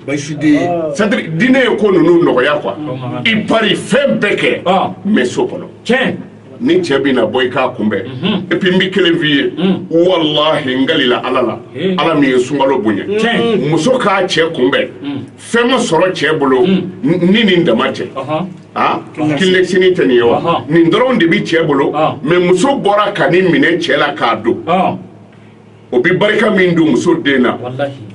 c'est-à-dire diinɛ ye ko ninnu nɔgɔya quoi i pari fɛn bɛɛ kɛ mais so kɔnɔ tiɲɛ ni cɛ bɛ na bɔ i k'a kunbɛn et puis n bɛ kelen f'i ye walahi n kalila ala la ala min ye sunkalo bonya muso k'a cɛ kunbɛn fɛn ma sɔrɔ cɛ bolo ni nin dama tɛ aa kilelesini tɛ nin ye wa nin dɔrɔn de bɛ cɛ bolo mais muso bɔra ka nin minɛ cɛ la k'a don o bɛ barika min don muso den na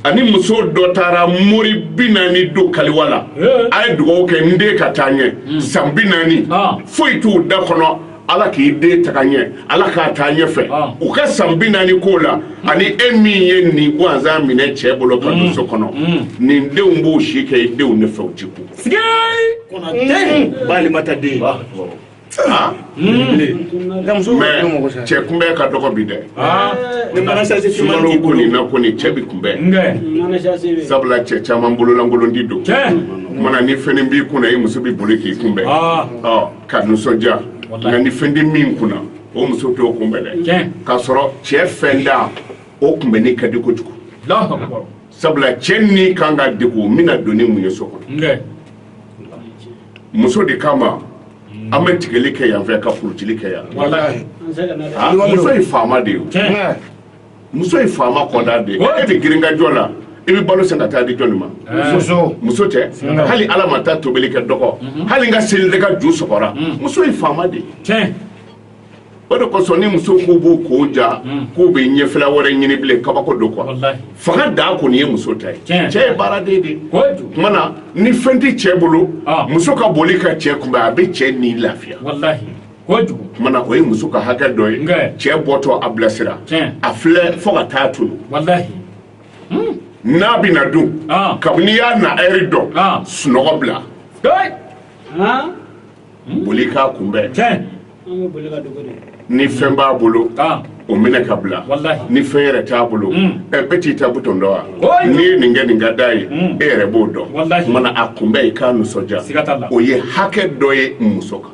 ani muso dɔ taara mori bi naani don kaliwa la a ye dugawu kɛ n den ka taa ɲɛ san bi naani foyi t'u da kɔnɔ ala k'i den taga ɲɛ ala k'a taa ɲɛfɛ u ka san bi naani ko la ani e min ye nin gansan minɛ cɛ bolo ka don so kɔnɔ nin denw b'u si kɛ i denw nɔfɛ u ti ku cɛ kunbɛn ka dɔgɔ bi dɛ sumani ko nin na ko nin cɛ bi kunbɛn sabula cɛ caman bololankolon di don mana ni fɛn b'i kunna i muso bɛ boli k'i kunbɛn ka nisɔndiya nka ni fɛn tɛ min kunna o muso t'o kunbɛn dɛ k'a sɔrɔ cɛ fɛntan o kunbɛnni ka di kojugu sabula cɛ ni kan ka degun n bɛna don ni mun ye so kɔnɔ muso de kama an bɛ tigɛli kɛ yan fɛ ka furutili kɛ yan muso ye faama de ye muso ye faama kɔda de e bɛ girinkajɔ la i bɛ balo san ka taa di jɔnni ma muso tɛ hali ala ma taa tobili kɛ dɔgɔ mhm. hali ka seli de ka ju sɔgɔra mhm. muso ye faama de ye o de kosɔn ni muso k'u b'u ko ja mhm. k'u bɛ ɲɛfɛla wɛrɛ ɲini bilen kabako don quoi fanga dan kɔni ye muso ta ye cɛ ye baaraden de ye tuma na ni fɛn tɛ cɛ bolo ah. muso ka boli ka cɛ kunbɛn a bɛ cɛ ni lafiya kuma na o ye muso ka hakɛ dɔ ye cɛ bɔtɔ a bilasira a filɛ fo ka taa tunun hmm. n'a bɛ na dun ah. kabini y'a na ɛri dɔn ah. sunɔgɔ bila ah. hmm. boli k'a kunbɛn ni fɛn b'a bolo o minɛ ka bila ni fɛn yɛrɛ t'a bolo hmm. ɛ bɛɛ t'i ta butɔn dɔn wa n'i ye nin kɛ nin ka d'a ye e yɛrɛ b'o dɔn mana a kunbɛn i k'a nisɔndiya o ye hakɛ dɔ ye muso kan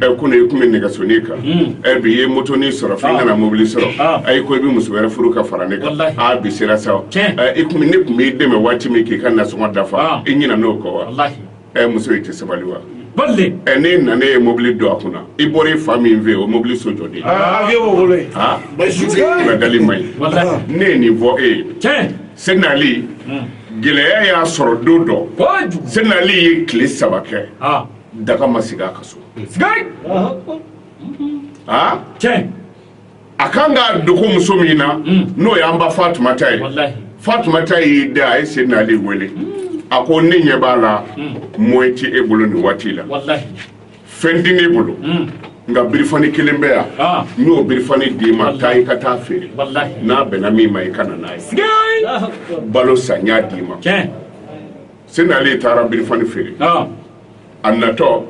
ɛ ko i tun bɛ nɛgɛsonin kan ɛ bi i ye motonin sɔrɔ fo i nana mobili sɔrɔ ayi ko i bɛ muso wɛrɛ furu ka fara ne kan aa bi sera sa o i tun ne tun b'i dɛmɛ waati min k'i ka nasɔngɔ dafa i ɲinɛna o kɔ wa ɛ muso i tɛ sabali wa ɛ n'e nana e ye mobili don a kunna i bɔra i fa min fɛ yen o mobili so jɔ de aa avion b'o bolo yen aa kunnadali man ɲi ne ye nin fɔ e ye Sɛdina Ali gɛlɛya y'a sɔrɔ don dɔ Sɛdina Ali ye tile saba kɛ. daga ma sigi a ka so aa tiɲɛ a kan ka dogo muso min na n'o y'an ba fatumata ye walahi fatumata y'i da a ye seydina ali wele a ko ne ɲɛ b'a la moyen tɛ e bolo nin waati la walahi fɛn tɛ ne bolo nka birifani kelen bɛ yan Ah. n y'o birifani d'i ma taa i ka taa feere walahi n'a bɛnna min ma i ka na n'a ye sigi balo san n y'a d'i ma tiɲɛ seydina ali taara birifani feere a natɔ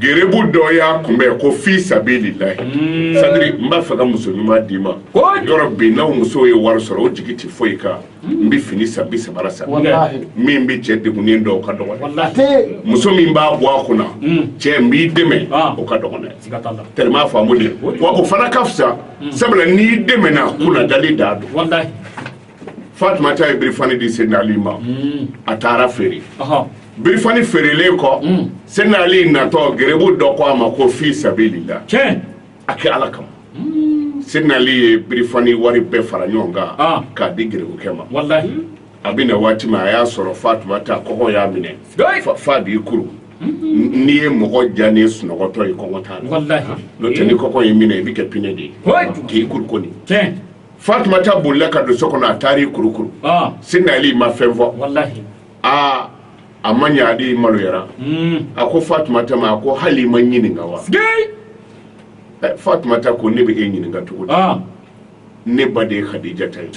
gerebu dɔ y'a kunbɛn ko fi sabilila sadiri n b'a fɛ ka muso ɲuman d'i ma yɔrɔ bi n'aw musow ye wari sɔrɔ o jigi tɛ foyi kan n bɛ fini san sabara san min bɛ cɛ degunnen dɔn o ka dɔgɔn muso min b'a bɔ a kunna cɛ n b'i dɛmɛ o ka dɔgɔn i m'a faamu wa o fana ka fisa sabula n'i dɛmɛna kunnadali de don fatumata ye birifani di seydina ali ma hmm. a taara feere birifani feerelen kɔ hmm. seydina ali natɔ gerebu dɔ ko a ma ko fi sabilila a kɛ ala kama hmm. seydina ali ye birifani wari bɛɛ fara ɲɔgɔn kan ah. k'a di gerebukɛ ma a bɛ na waati min a y'a sɔrɔ fatumata kɔngɔ y'a minɛ f'a b'i kuru n'i ye mɔgɔ jalen sunɔgɔtɔ ye kɔngɔ t'a la n'o tɛ ni kɔngɔ y'i minɛ i bɛ kɛ pinɛ de ye k'i kuru kɔni fatumata bolila ka don so kɔnɔ a taara i kurukuru seydina ali ma fɛn fɔ aa a ma ɲɛ ali maloyara hmm. a ko fatumata ma a ko hali i ma n ɲininka wa fatumata ko ne bɛ e ɲininka cogo di ne ba de ye kadijata ye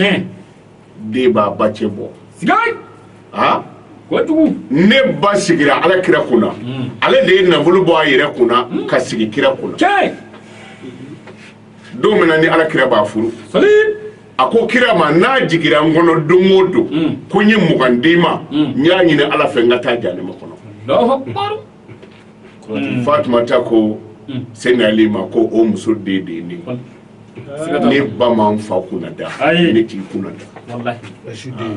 den b'a ba cɛ bɔ ne ba sigira ala kira kunna hmm. ale de ye nafolo bɔ a yɛrɛ kunna hmm. ka sigi kira kunna don min na ni ala kira b'a furu a ko kira ma n'a jigira n kɔnɔ don o don mm. ko n ye mugan d'i ma mm. n y'a ɲini ala fɛ n ka taa jahanama kɔnɔ mm. fatumata ko Seydina Ali ma ko o muso den de ye ne ne ba ma n fa kunna da ne t'i kunna da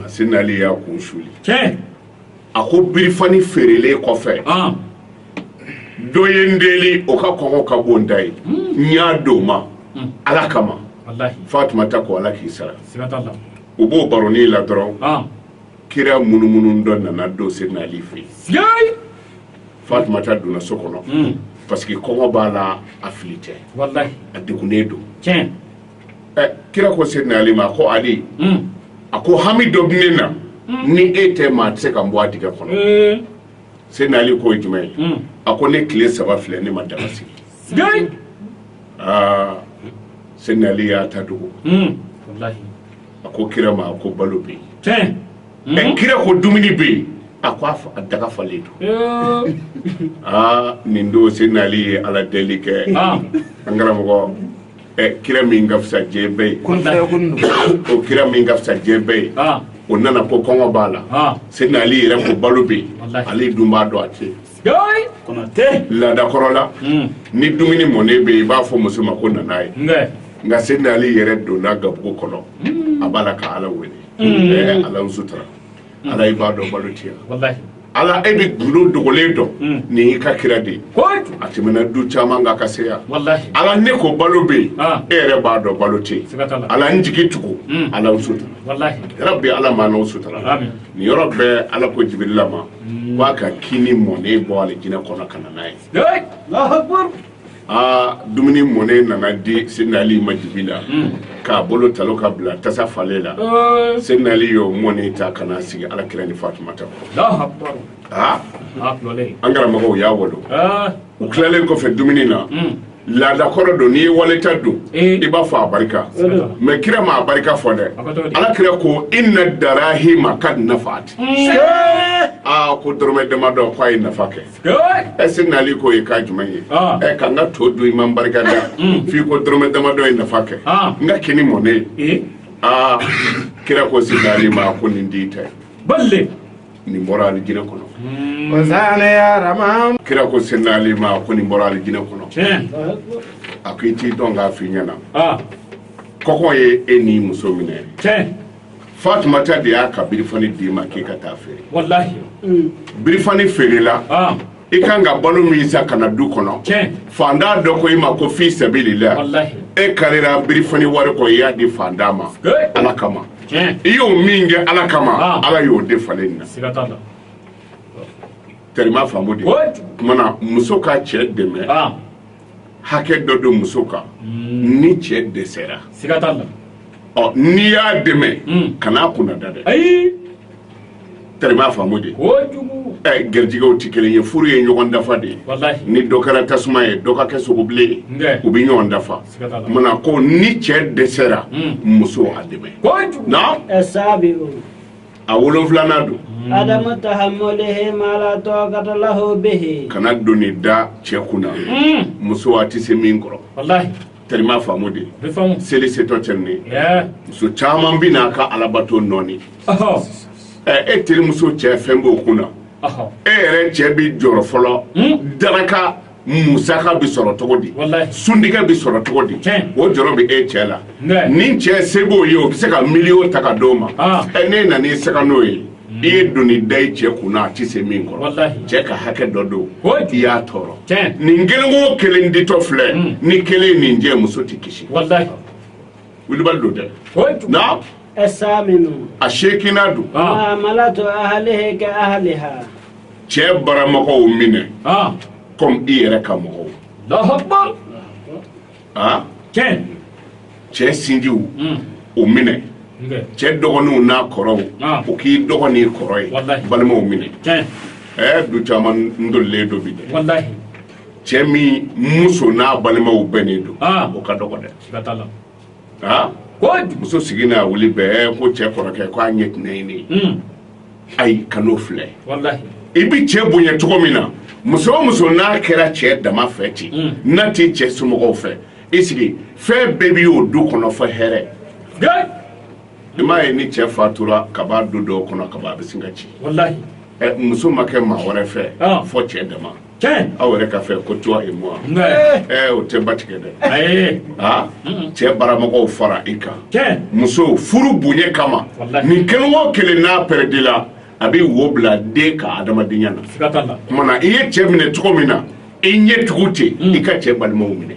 Seydina Ali y'a kun suli a ko birifani feerelen kɔfɛ dɔ ye n deli o ka kɔngɔ ka bon n ta ye hmm. n y'a di o ma hmm. ala kama fatumata ko ala k'i sara u b'o baronin la dɔrɔn kira munumunutɔ nana don Seydina Ali fɛ fatumata donna so kɔnɔ hmm. parce que kɔngɔ b'a la a fili tɛ a degunnen don kira ko Seydina Ali ma ko ali a ko hami dɔ ne na ni e tɛ maa tɛ se ka n bɔ a dingɛ kɔnɔ Seydina Ali k'o ye jumɛn ye a ko ne tile saba filɛ ne ma daga sigi aa Seydina Ali y'a ta dogo a ko kira ma a ko balo bɛ yen kira ko dumuni bɛ yen a ko a daga falen don aa nin don Seydina Ali ye ala deli kɛ an karamɔgɔ ɛ kira min ka fisa diɲɛ bɛɛ ye kun fɛ kun don o kira min ka fisa diɲɛ bɛɛ ye ah o nana ko kɔngɔ b'a la ah Seydina Ali yɛrɛ ko balo bɛ yen Walahi. ale dun b'a dɔn a tɛ yen yoy kɔnɔ tɛ laadakɔrɔ la hmm ni dumuni mɔnen bɛ yen i b'a fɔ muso ma ko na n'a ye nka Seydina Ali yɛrɛ donna gabugu kɔnɔ a b'a la ka ala wele ɛɛ ala n sutura ala i b'a dɔn balo tɛ yen ala e bɛ gundo dogolen dɔn hmm. nin y'i ka kira de ye a tɛmɛna du caman kan ka se yan ala ne ko balo bɛ yen ah. e yɛrɛ b'a dɔn balo tɛ yen ala n jigi tugu hmm. ala n sutura yarabi ala m'anw sutura nin yɔrɔ bɛɛ ala ko jibirila ma hmm. k'a ka kini mɔnen bɔ alijinɛ kɔnɔ ka na n'a ye aa dumuni mɔnen nana di Seydina Ali ma dibi la k'a bolo talo ka bila tasa falen la Seydina Ali y'o mɔnen ta ka na sigi alakira ni Fatumata aa an karamɔgɔ u y'a wolo u tilalen kɔfɛ dumuni na laada kɔrɔ don n'i ye wali ta dun i b'a fɔ a barika mais kira ma a barika fɔ dɛ ala kira ko inna darahima kad nafat aa ko dɔrɔmɛ damadɔ k'a ye nafa kɛ ɛ Seydina Ali k'o ye kan jumɛn ye ah. e ka n ka to dun i ma n barika da mm. f'i ko dɔrɔmɛ damadɔ ye nafa kɛ ah. n ka kini mɔnen eh? aa ah, kira ko Seydina Ali ma ko nin di tɛ balle nin bɔra alijinɛ kɔnɔ hmm. kira ko Seydina Ali ma ko nin bɔra alijinɛ kɔnɔ a ko i t'i dɔn k'a f'i ɲɛna kɔkɔ ye e ni muso minɛ fatumata de y'a ka birifani d'i ma k'i ka taa feere birifani feerela ah. i kan ka balo min san ka na du kɔnɔ fantan dɔ ko i ma ko fi sabilillah e karira birifani wari kɔ i y'a di fantan ma ala kama i y'o min kɛ ala kama ah. ala y'o de falen na terima faamu de o tumana muso ka cɛ dɛmɛ ah. hakɛ dɔ don muso kan hmm. ni cɛ dɛsɛra siga t'a la ɔ n'i y'a dɛmɛ hmm. kan'a kunnada dɛ ayi terima faamu de kojugu ɛ eh, garijigɛw tɛ kelen ye furu ye ɲɔgɔn dafa de ye ni dɔ kɛra tasuma ye dɔ ka kɛ sogobilen ye u bɛ ɲɔgɔn dafa mana ko ni cɛ dɛsɛra hmm. muso a dɛmɛ kojugu na ɛ eh, saa bɛ a wolonwulanan don adamu tahammulihi ma la taqata lahu bihi kana doni da cɛ kun na muso a tɛ se min kɔrɔ walahi terima faamu de bɛ faamu seli setɔ cɛ ni ɛɛ muso caman bɛ na a ka alabato nɔɔni ɔhɔ ɛ e terimuso cɛ fɛn b'o kun na ɔhɔ e yɛrɛ cɛ bɛ jɔrɔ fɔlɔ daraka musaka bɛ sɔrɔ cogo di suntigɛ bɛ sɔrɔ cogo di o jɔrɔ bɛ e cɛ la ni cɛ se b'o ye o bɛ se ka miliyɔn ta ka d'o ma ah. ɛ ne nana i sanga n'o ye hmm. i ye doni da i cɛ kun na a tɛ se min kɔrɔ cɛ ka hakɛ dɔ don i y'a tɔɔrɔ nin kelen o kelen ditɔ filɛ hmm. ni kelen nin jɛ muso tɛ kisi wilibali don dɛ a seginnan don cɛ baramɔgɔw minɛ ah. comme i yɛrɛ ka mɔgɔw ah. cɛ sinjiw hmm. o minɛ cɛ dɔgɔninw n'a kɔrɔw ah. o k'i dɔgɔ n'i kɔrɔ ye balimaw minɛ ɛɛ du caman tolilen don bi dɛ cɛ min muso n'a balimaw bɛnnen don o ka dɔgɔ dɛ muso sigi n'a wuli bɛɛ ko cɛ kɔrɔkɛ ko a ɲɛ tɛnɛ ye ne ye hmm. ayi kan'o filɛ i bɛ cɛ bonya cogo min na muso o muso n'a kɛra cɛ dama fɛ ten hmm. n'a tɛ cɛ somɔgɔw fɛ i sigi fɛn bɛɛ bɛ o du kɔnɔ fɔ hɛrɛ i m'a ye ni cɛ fatura ka ban du dɔw kɔnɔ gaba bɛ sin ka ci muso ma kɛ maa wɛrɛ fɛ ah. fɔ cɛ dama aw yɛrɛ ka fɛ ko toi et moi o tɛ ba tigɛ dɛ cɛ baramɔgɔw fara i kan muso furu bonya kama nin kelen o kelen n'a pɛrɛdila a bɛ wo bila den ka adamadenya na tumana i ye cɛ minɛ cogo min na i ɲɛ tugu ten i ka cɛ balimaw minɛ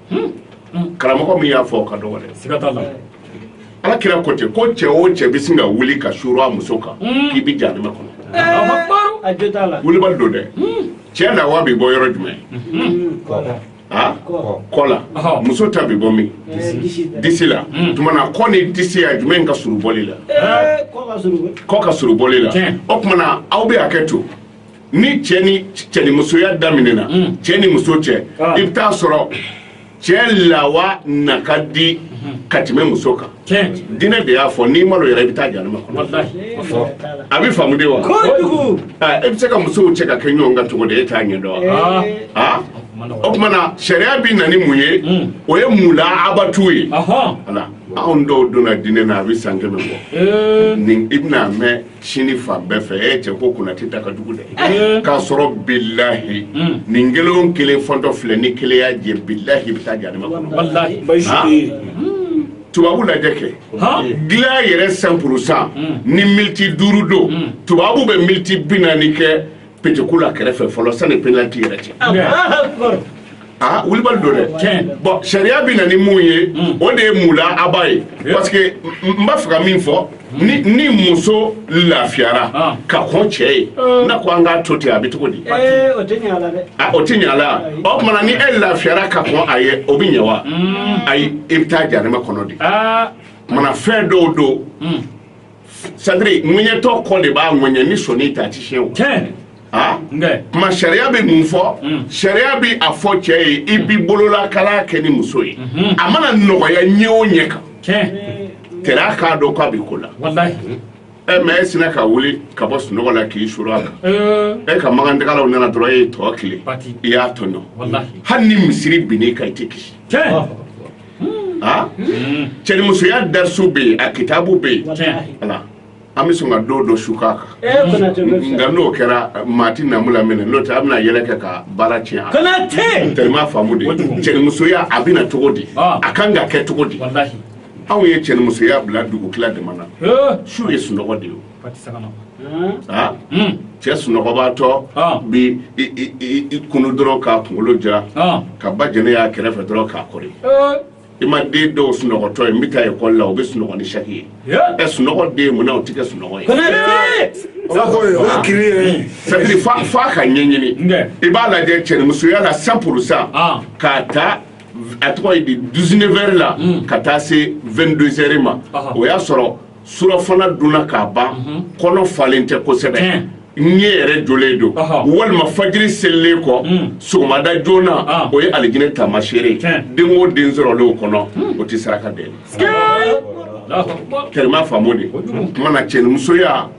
karamɔgɔ min y'a fɔ ka dɔgɔ dɛ ala kira ko ten ko cɛ o cɛ bɛ sin ka wuli ka suru a muso kan hmm. k'i bɛ jahanama kɔnɔ wulibali don dɛ hmm. cɛ lawa bɛ bɔ yɔrɔ jumɛn hmm. kɔ la muso ta bɛ bɔ min disi la tuma na kɔ ni disi a jumɛn ka surun bɔli la kɔ ka surun bɔli la o tuma na aw bɛ hakɛ to ni cɛ ni cɛnimusoya daminɛna cɛ ni muso cɛ i bɛ taa a sɔrɔ cɛ lawa na ka di ka tɛmɛ muso kan dinɛ de y'a fɔ n'i maloyara i bɛ taa jahanama a bɛ faamu de wa e bɛ se ka musow cɛ ka kɛ ɲɔgɔn kan cogo di e t'a ɲɛ dɔn aa o tuma na sariya bɛ na ni mun ye o ye mulaabatu ye anw dɔw donna dinɛ na a bɛ san kɛmɛ bɔ nin i bɛna mɛn sini fan bɛɛ fɛ e cɛ ko Konate da ka jugu dɛ eh. k'a sɔrɔ bilahi hmm. nin kelen kelen fɔtɔ filɛ ni kelen y'a jɛ bilahi i bɛ taa jahanama kɔnɔ tubabu lajɛ kɛ dilan yɛrɛ cent pour cent hmm. ni militi duuru don hmm. tubabu bɛ militi bi naani kɛ peteku la kɛrɛfɛ fɔlɔ sani penaliti yɛrɛ cɛ aa wulibali don dɛ bon sariya bɛ na ni mun ye hmm. o de ye mulaaba ye parce que n b'a fɛ ka min fɔ ni ni muso lafiyara ah. ka kɔn cɛ ye eh. n'a ko an k'a to ten a bɛ cogo di eh, o tɛ ɲɛ a la dɛ ah, o tɛ ɲɛ a la o tuma na ni e lafiyara ka kɔn a ye o bɛ ɲɛ wa hmm. ayi i bɛ taa jahanama kɔnɔ de ah. mana fɛn dɔw don hmm. c'est-à-dire ŋɛɲɛtɔ kɔ de b'a ŋɛɲɛ ni sɔnin ta a ti siyɛn o. tiɲɛ. aa kuma sariya bɛ mun fɔ. Mm. sariya bɛ a fɔ cɛ ye i bi bololakala kɛ ni muso ye. Mm-hmm. a mana nɔgɔya ɲɛ o ɲɛ kan. tiɲɛ. tɛrɛ k'a dɔn k'a bɛ ko la. walayi. ɛ eh, mais e sinna ka wuli ka bɔ sunɔgɔ la k'i suru a kan. e eh. eh, ka magandagalaw nana dɔrɔn e ye tɔ tile. i y'a tɔɲɔ. walayi. hali ni misiri binna i kan i tɛ kisi. tiɲɛ. cɛnimusoya darisu bɛ yen a kitabu bɛ yen an bɛ sɔn ka don dɔ su k'a kan nka n'o kɛra maa tɛ namu laminɛ n'o tɛ a bɛna yɛlɛ kɛ ka baara tiɲɛ teri faamu de cɛnimusoya a bɛ na cogo di a kan ka kɛ cogo di anw ye cɛnimusoya bila dugutila dama na su ye sunɔgɔ de ye cɛ sunɔgɔbaatɔ bɛ i kunu dɔrɔn k'a kunkolo jira ka ba jɛnɛ y'a kɛrɛfɛ dɔrɔn k'a kɔrɔ i ma den dɔw sunɔgɔtɔ ye n bɛ taa ekɔli la u bɛ sunɔgɔ ni saki ye ɛ sunɔgɔ den mun na u tɛ kɛ sunɔgɔ ye c'est-à-dire f'a ka ɲɛɲini i b'a lajɛ cɛnimusoya la cent pour cent k'a ta a tɔgɔ ye di dix-neuf heures la ka taa se vingt-deux heures ma o y'a sɔrɔ surafana dunna ka ban kɔnɔ falen tɛ kosɛbɛ ɲɛ yɛrɛ jɔlen don walima fajiri selilen kɔ hmm. sɔgɔmada joona ah. o ye alijinɛ taamasere den o den sɔrɔlen o kɔnɔ hmm. o tɛ saraka deli tɛrɛma faamu de tuma na cɛnimusoya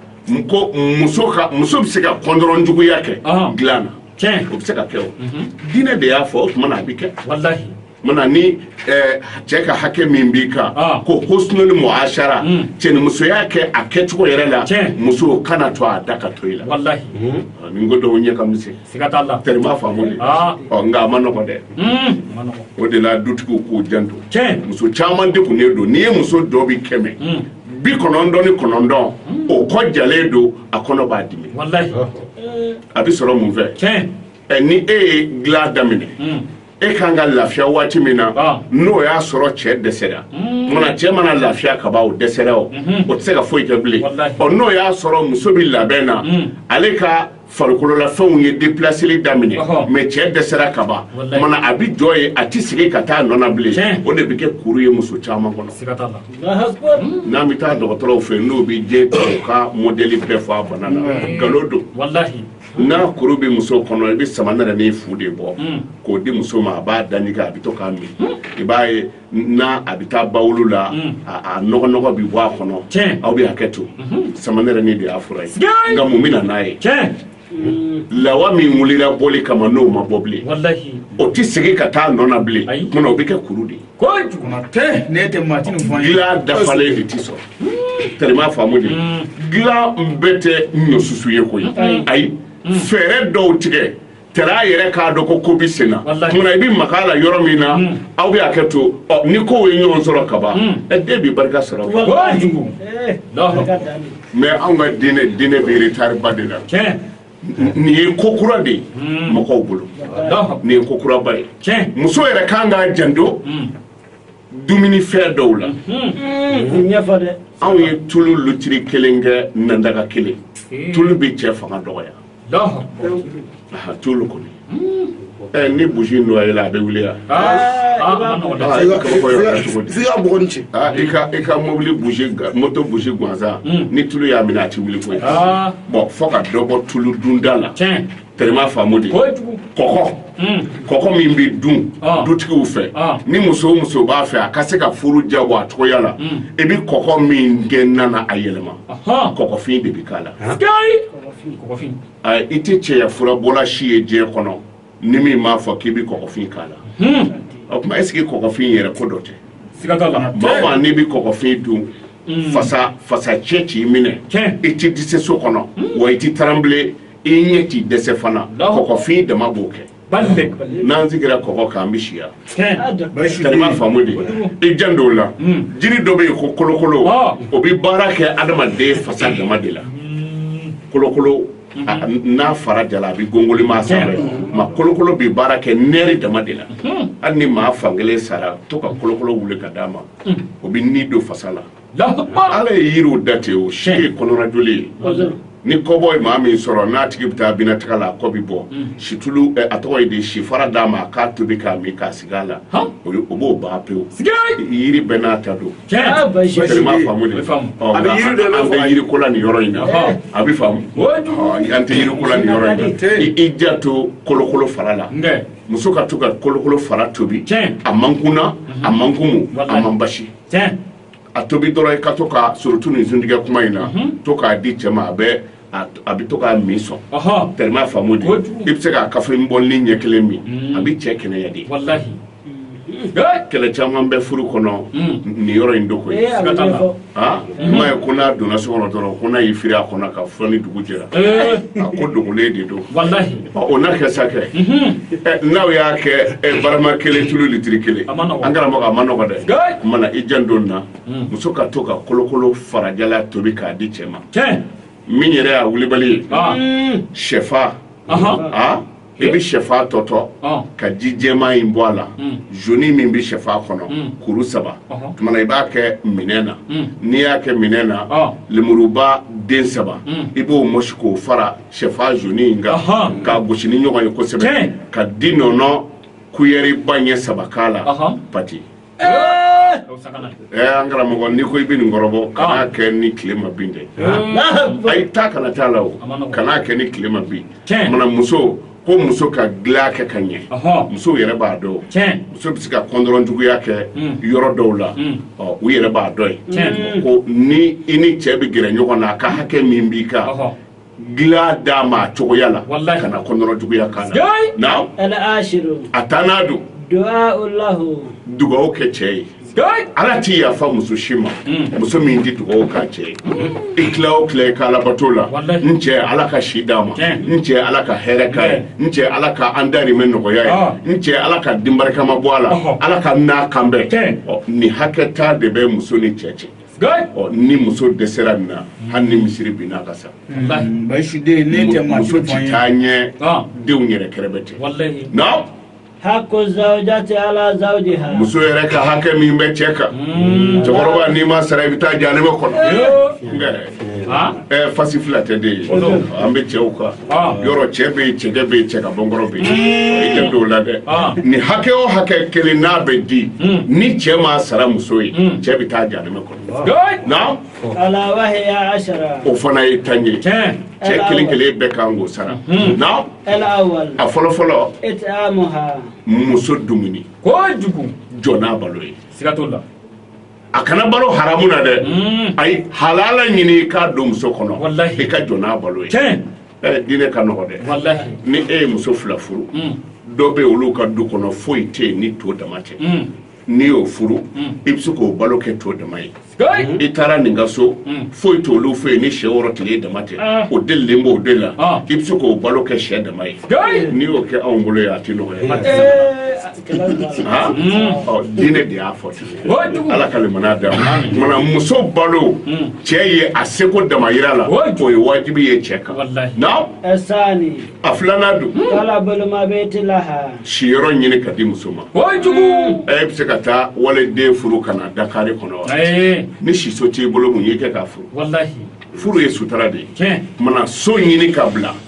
ko muso ka muso bɛ se ka kɔndɔrɔn juguya kɛ dilan na o bɛ se ka kɛ o mhm. diinɛ de y'a fɔ o tuma na a bɛ kɛ mana ni eh, cɛ ka hakɛ min b'i kan ah. ko husnul muashara mm. cɛnimusoya kɛ a kɛcogo yɛrɛ la muso kana to a da ka to i la wallahi mm. ah, ni ko dɔw ɲɛ ka misɛn siga t'a la tɛrima faamu de ah. ɔ nka a ma nɔgɔ dɛ mm. o de la dutigiw k'u janto muso caman degunnen don n'i ye muso dɔ bi kɛmɛ bi kɔnɔntɔn ni kɔnɔntɔn o kɔ jalen don a kɔnɔ b'a dimi a bɛ sɔrɔ mun fɛ eh, ni e ye dilan daminɛ e ka kan ka lafiya waati min na n'o y'a sɔrɔ cɛ dɛsɛra mana cɛ mana lafiya ka ban o dɛsɛra o o tɛ se ka foyi kɛ bilen ɔ n'o y'a sɔrɔ muso bɛ labɛn na ale ka farikololafɛnw ye deplaseli daminɛ mɛ cɛ dɛsɛra ka ban mana a bɛ jɔ yen a tɛ segin ka taa nɔ na bilen o de bɛ kɛ kuru ye muso caman kɔnɔ n'a bɛ taa dɔgɔtɔrɔw fɛ n'o bɛ jɛ ka mɔdɛli bɛɛ fɔ a bana na nkalon don n'a kuru bɛ muso kɔnɔ i bɛ samanɛrɛnin fu de bɔ hmm. k'o di muso ma a b'a da ɲigin a bɛ to k'a min hmm. i b'a ye n'a a bɛ taa bawolo la hmm. a nɔgɔ nɔgɔ bɛ bɔ a kɔnɔ aw bɛ hakɛ to samanɛrɛnin de y'a fura ye nka mun bɛ na n'a ye lawa min wulila bɔli kama n'o ma bɔ bilen o tɛ segin ka taa nɔ na bilen munna o bɛ kɛ kuru de ye ko kuma tɛ ne tɛ maa tɛ nin fɔ gilan dafalen de tɛ sɔrɔ hmm. tɛrɛma faamu de hmm. gilan bɛɛ tɛ ɲɔsusu ye koyi hmm. ayi fɛɛrɛ dɔw tigɛ tɛrɛ a yɛrɛ k'a dɔn ko ko bɛ sen na munna i bɛ maga a la yɔrɔ min na aw bɛ hakɛ to ni kow ye ɲɔgɔn sɔrɔ ka ban ɛ den bɛ barika sɔrɔ mɛ anw ka diinɛ diinɛ bɛ retari ba de la nin ye ko kura de ye hmm. mɔgɔw bolo nin ye ko kuraba ye muso yɛrɛ kan k'a janto hmm. dumuni fɛn dɔw la hmm. anw ye tulu lutiri kelen kɛ nandaga kelen tulu bɛ cɛ fanga dɔgɔya tulu kɔni ɛ ni buzi noyela a bɛ wuli yan f'i ka bɔgɔ ni ci i ka i ka mobili buzi moto buzi gansan ni tulu y'a minɛ a ti wuli koyi bɔn fo ka dɔ bɔ tulu dunda la tɛrɛma faamu de kɔkɔ kɔkɔ min bɛ dun dutigiw fɛ ni muso muso b'a fɛ a ka se ka furu diyabɔ a cogoya la i bɛ kɔkɔ min kɛ na na a yɛlɛma kɔkɔfin de bɛ k'a la a i tɛ cɛya furabɔla si ye diɲɛ kɔnɔ ni min m'a fɔ k'i bɛ kɔɔgɔfin k'a la o tuma est ce que kɔɔgɔfin in yɛrɛ ko dɔ tɛ siga t'a la maa o maa n'i bɛ kɔɔgɔfin dun fasa fasa cɛ t'i minɛ Tiɲɛ. i tɛ dɛsɛ so kɔnɔ wa i tɛ taranbile i ɲɛ t'i dɛsɛ fana Alahu akbar. kɔɔgɔfin dama b'o kɛ n'an sigira kɔgɔ kan an bɛ si yan terima faamu de i jan t'o la jiri dɔ bɛ yen ko kolokolo o bɛ baara kɛ adamaden fasa dama de la kolokolo n'a fara jala a bɛ gongoli maa sanfɛ ma kolokolo bɛ baara kɛ nɛri dama de la hali ni maa fankelen sara to ka kolokolo wuli ka d'a ma o bɛ ni don fasa la ala ye yiriw da ten o si ye kɔnɔnajoli ye ni kɔbɔ ye maa min sɔrɔ n'a tigi bɛ taa banakɔtaga la a kɔ bɛ bɔ situlu a tɔgɔ ye di si fara d'a ma k'a tobi k'a min k'a sigi a la o b'o ban pewu jiri bɛɛ n'a ta don an tɛ yiri ko la nin yɔrɔ in na a bɛ faamu an tɛ yiri ko la nin yɔrɔ in na i janto kolokolo fara la muso ka to ka kolokolo fara tobi a man kunna a man kumu a man basi a tobi dɔrɔn i ka to ka surtout nin suntigɛ kuma in na to k'a di cɛ ma a bɛ to k'a min sɔn terima faamu de i bɛ se k'a kafe bɔli ɲɛ kelen min a bɛ cɛ kɛnɛya de kɛlɛ caman bɛ furu kɔnɔ nin yɔrɔ in don koyi i m'a ye ko n'a donna so kɔnɔ dɔrɔn ko n'a y'i firi a kɔnɔ kan fɔ ni dugu jɛra a ko dogolen de don O n'a kɛ sa kɛ n'aw y'a kɛ barama kelen tulu litiri kelen an karamɔgɔ a man nɔgɔ dɛ o tuma na i janto n na muso ka to ka kolokolo fara jalan tobi k'a di cɛ ma min yɛrɛ y'a wulibali ye shɛfan aa i bɛ shɛfan tɔtɔ ka ji jɛman in bɔ a la zoni min bɛ shɛfan kɔnɔ kuru saba tuma i b'a kɛ minɛn na n'i y'a kɛ minɛn na lemuruba den saba i b'o mɔsi k'o fara shɛfan zoni in kan Ahan. k'a gosi ni ɲɔgɔn ye kosɛbɛ Tiɲɛ. ka dinɔnɔ kuyɛriba ɲɛ saba k'a la Ahan. pati Ee! O sakana. ɛ an karamɔgɔ n'i ko i bɛ nin kɔrɔbɔ kan'a kɛ ni tile ma bin dɛ Alahu ayi taa kana t'a la o A man nɔgɔn. kan'a kɛ ni tile ma bin Tiɲɛ. mana muso ko muso ka dilan kɛ ka ɲɛ Ahan. musow yɛrɛ b'a dɔn Tiɲɛ. muso bɛ se ka kɔnɔrɔjuguya kɛ Mm. yɔrɔ dɔw la Mm. ɔ u yɛrɛ b'a dɔn ye Tiɲɛ. ko ni i ni cɛ bɛ gɛrɛ ɲɔgɔn na a ka hakɛ min b'i kan Ɔhɔ. dilan d'a ma a cogoya la walahi kana kɔnɔrɔjuguya k'a la a taa n'a don dugaw kɛ cɛ ye ala tɛ yafa muso si ma mm. muso min tɛ dugaw k'a cɛ ye mm. i tila o tila i ka alabato la n cɛ ala ka si d'a ma n cɛ ala ka hɛrɛ k'a ye n cɛ ala ka an darimɛ nɔgɔya ye ah. n cɛ ala ka den barikama bɔ a la ala ka n n'a kan bɛn nin hakɛ ta de bɛ muso ni cɛ cɛ ni muso dɛsɛra nin na hali ni misiri binna ka sa muso ti taa ɲɛ denw yɛrɛ kɛrɛbɛtɛ hakku zawjati ala zawjiha muso yɛrɛ ka hakɛ min bɛ cɛ kan hmm. cɛkɔrɔba n'i m'a sara i bɛ taa jahanama kɔnɔ fasi fila tɛ den ye an bɛ cɛw kan Ah. yɔrɔ cɛ bɛ yen cɛkɛ bɛ yen cɛ ka bɔnkɔrɔ bɛ yen hmm. i tɛ don o la dɛ ah. ni hakɛ o hakɛ kelen n'a bɛ di hmm. ni cɛ m'a sara muso ye hmm. cɛ bɛ taa jahanama kɔnɔ na o fana ye tan ye cɛ kelen kelen bɛɛ kan k'o sara na a fɔlɔ fɔlɔ muso dumuni jɔ n'a balo ye siga t'o la a kana balo haramu na dɛ mm. ayi halala ɲini i k'a don muso kɔnɔ i ka jɔ n'a balo ye diinɛ ka nɔgɔ dɛ ni e ye muso fila furu mm. dɔ bɛ olu ka du kɔnɔ foyi tɛ yen ni to dama tɛ mm. n'i y'o furu i bɛ se k'o balo kɛ to dama ye i taara nin ka so foyi t'olu fɛ yen ni sɛ wɔɔrɔ tile dama tɛ ah. o delilen b'o de la ah. i bɛ se k'o balo kɛ sɛ dama ye n'i y'o kɛ anw bolo yan a tɛ nɔgɔya diinɛ de y'a fɔ ten ala ka limaniya d'an ma mana muso balo cɛ ye a seko damayira la o ye wajibi ye cɛ kan na a filanan dun siyɔrɔ ɲini k'a di muso ma e bɛ se ka taa waliden furu ka na Dakari kɔnɔ wa ni siso t'i bolo mun y'i kɛ k'a furu furu ye sutura de ye mana so ɲini k'a bila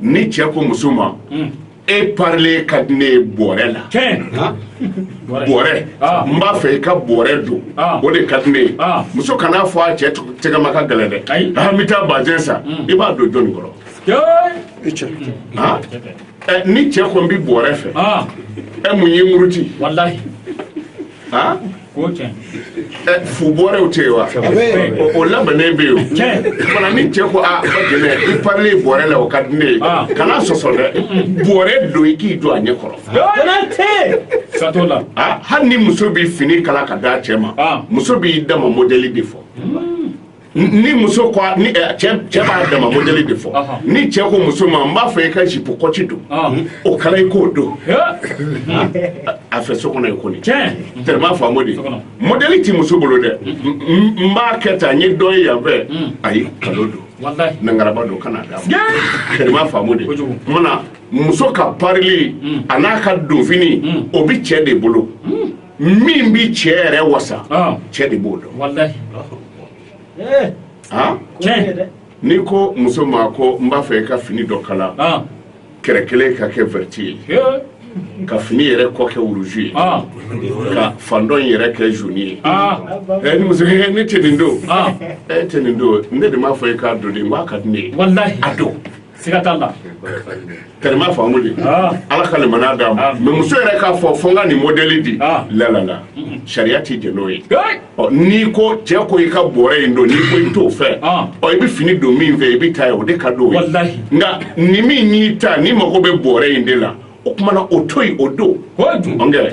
ni cɛ ko muso ma e parilen ka di ne ye bɔrɛ la bɔrɛ n b'a fɛ i ka bɔrɛ don ah. o de ka di ne ye ah. muso kan'a fɔ a cɛ tɛgɛma ka gɛlɛn dɛ an bɛ taa bazɛn san mm. i b'a don jɔnni kɔrɔ ni cɛ ko n bɛ bɔrɛ fɛ e mun y'i muruti ha ko tiɲɛ fu bɔrɛw tɛ yen wa o labɛnnen bɛ yen o fana ni cɛ ko a b'a ɲɛ na i parilen bɔrɛ la o ka di ne ye ah. kana sɔsɔ dɛ bɔrɛ don i k'i jɔ a ɲɛ kɔrɔ siga t'o la ah, hali ni muso bɛ fini kala k'a d'a cɛ ma ah. muso b'i dama mɔdɛli de fɔ hmm. ni muso ko ni eh, cɛ cɛ b'a dama modèle de fɔ Ɔhɔn. ni cɛ ko muso ma n b'a fɛ i ka jipu kɔci don Ɔn. o kala i k'o don a fɛ so kɔnɔ i ko nin Tiɲɛ. tellement faamu de kɔnɔ. modèle ti muso bolo dɛ N- n n b'a kɛ tan n ye dɔ ye yan fɛ ayi kalon don walayi nangaraba don kana d'a ma tellement faamu de Kojugu. mana muso ka parili a n'a ka donfini o bi cɛ de bolo min bɛ cɛ yɛrɛ wasa cɛ de b'o dɔn n'i ko muso ma ko n b'a fɛ i ka fini dɔ kala kɛrɛ kelen ka kɛ verte ye ka fini yɛrɛ kɔ kɛ rouge ye ah. ka fan dɔ yɛrɛ kɛ jaune ye ah. eh, ni muso eh, ne tɛ nin don ah. eh, e tɛ nin don ne de m'a fɔ e k'a don de n k'a ka di ne ye a don siga t'a la tellement faamu de Ah. ala ka limaniya d'a ma Ah. mais muso yɛrɛ k'a fɔ fo n ka nin modɛli di Ah. lalala sariya tɛ jɛn n'o ye Hey! Ɔ, n'i ko cɛ ko i ka bɔrɛ in don n'i ko i t'o fɛ Ah. ɔ i bɛ fini don min fɛ i bɛ taa ye o de ka d'o ye Walahi. nka ni min y'i ta ni mago bɛ bɔrɛ in de la o kuma na o to yen o don o ye dun ɔnkɛ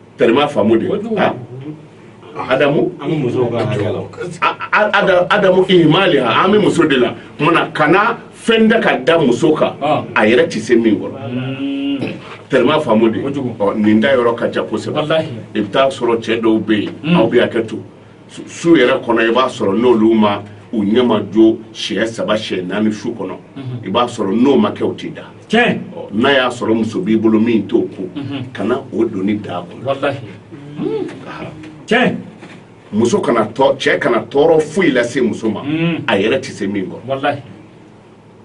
tellement faamu de ha adamu an bɛ musow ka hakɛ la a- a- ada- adamu ihimali ha an bɛ muso de la kuma na kana fɛn da ka da muso kan Ah. a yɛrɛ tɛ se min kɔrɔ tellement faamu de Kojugu. Ɔ, nin da yɔrɔ ka ca kosɛbɛ Walahi. i bɛ taa sɔrɔ cɛ dɔw bɛ yen aw bɛ hakɛ to su yɛrɛ kɔnɔ i b'a sɔrɔ n'olu ma u ɲɛma jo siɲɛ saba siɲɛ naani su kɔnɔ i b'a sɔrɔ n'o ma kɛ u tɛ da n'a y'a sɔrɔ muso b'i bolo min t'o ko kana o doni d'a kunna muso kana cɛ kana tɔɔrɔ foyi lase muso ma a yɛrɛ tɛ se min kɔrɔ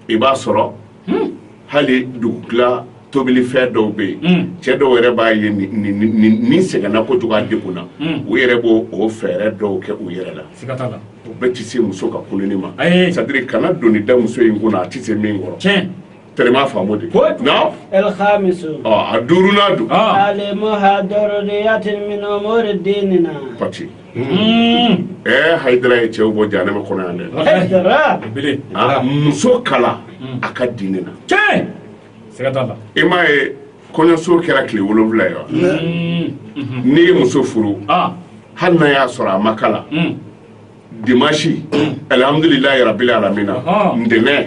i b'a sɔrɔ hali dugutila tobilifɛn dɔw bɛ yen cɛ dɔw yɛrɛ b'a ye nin sɛgɛnna kojugu a degunna u yɛrɛ b' o fɛɛrɛ dɔw kɛ u yɛrɛ la u bɛɛ tɛ se muso ka kolon ma c'est-à-dire kana doni da muso in kunna a tɛ se min kɔrɔ tellement faamu de ko a duuru ɛɛ hayidara ye cɛw bɔ janɛmɛ kɔnɔ yan dɛ Hayidara. Bele. Ah, muso kalan a ka diinɛ na Tiɲɛ. Siga t'a la. i m'a ye kɔɲɔso kɛra tile wolonwula ye wa n'i ye muso furu Ah. hali n'a y'a sɔrɔ a ma kalan Mm. dimansi alihamudulilayi rabili alamina Ah. ntɛnɛn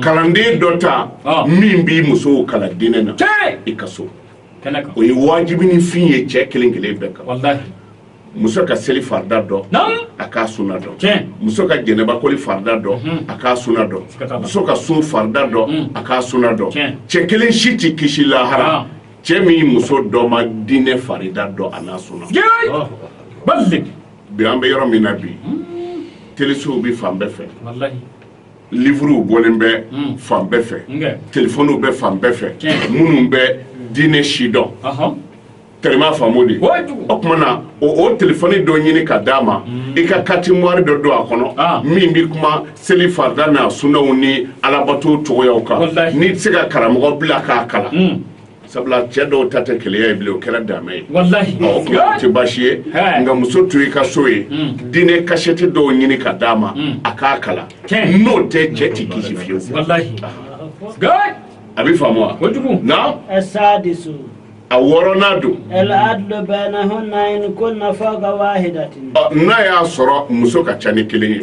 kalanden dɔ ta min b'i musow kalan diinɛ na i ka so o ye wajibi ni fin ye cɛ kelen kelen bɛɛ kan muso ka seli farida dɔn a k'a suna dɔn muso ka jɛnɛbakoli farida dɔn mhm. a k'a suna dɔn muso ka sun farida dɔn mhm. a k'a suna dɔn cɛ kelen si tɛ kisi lahara cɛ min muso dɔ ma diinɛ farida dɔn a n'a suna bi an bɛ yɔrɔ min na bi mhm. telesow bɛ fan bɛɛ fɛ lifuruw bɔlen bɛ hmm. fan bɛɛ fɛ telefɔniw bɛ fan bɛɛ fɛ minnu bɛ diinɛ sidɔn tellement faamu de o tuma na o telefɔni dɔ ɲini ka d'a ma hmm. i ka carte mémoire dɔ don a kɔnɔ ah. min bɛ kuma seli farida n'a sunaw ni alabato cogoyaw kan n'i tɛ se ka karamɔgɔ bila k'a kalan hmm. sabula cɛ dɔw ta tɛ keleya ye bilen o kɛra dan ye tɛ baasi ye nka muso to i ka so ye hmm. diinɛ kasɛti dɔw ɲini ka d'a ma hmm. a k'a kalan n'o tɛ cɛ tɛ kisi fiyewu a bɛ faamu wa a wɔɔrɔnan don n'a y'a sɔrɔ muso ka ca ni kelen ye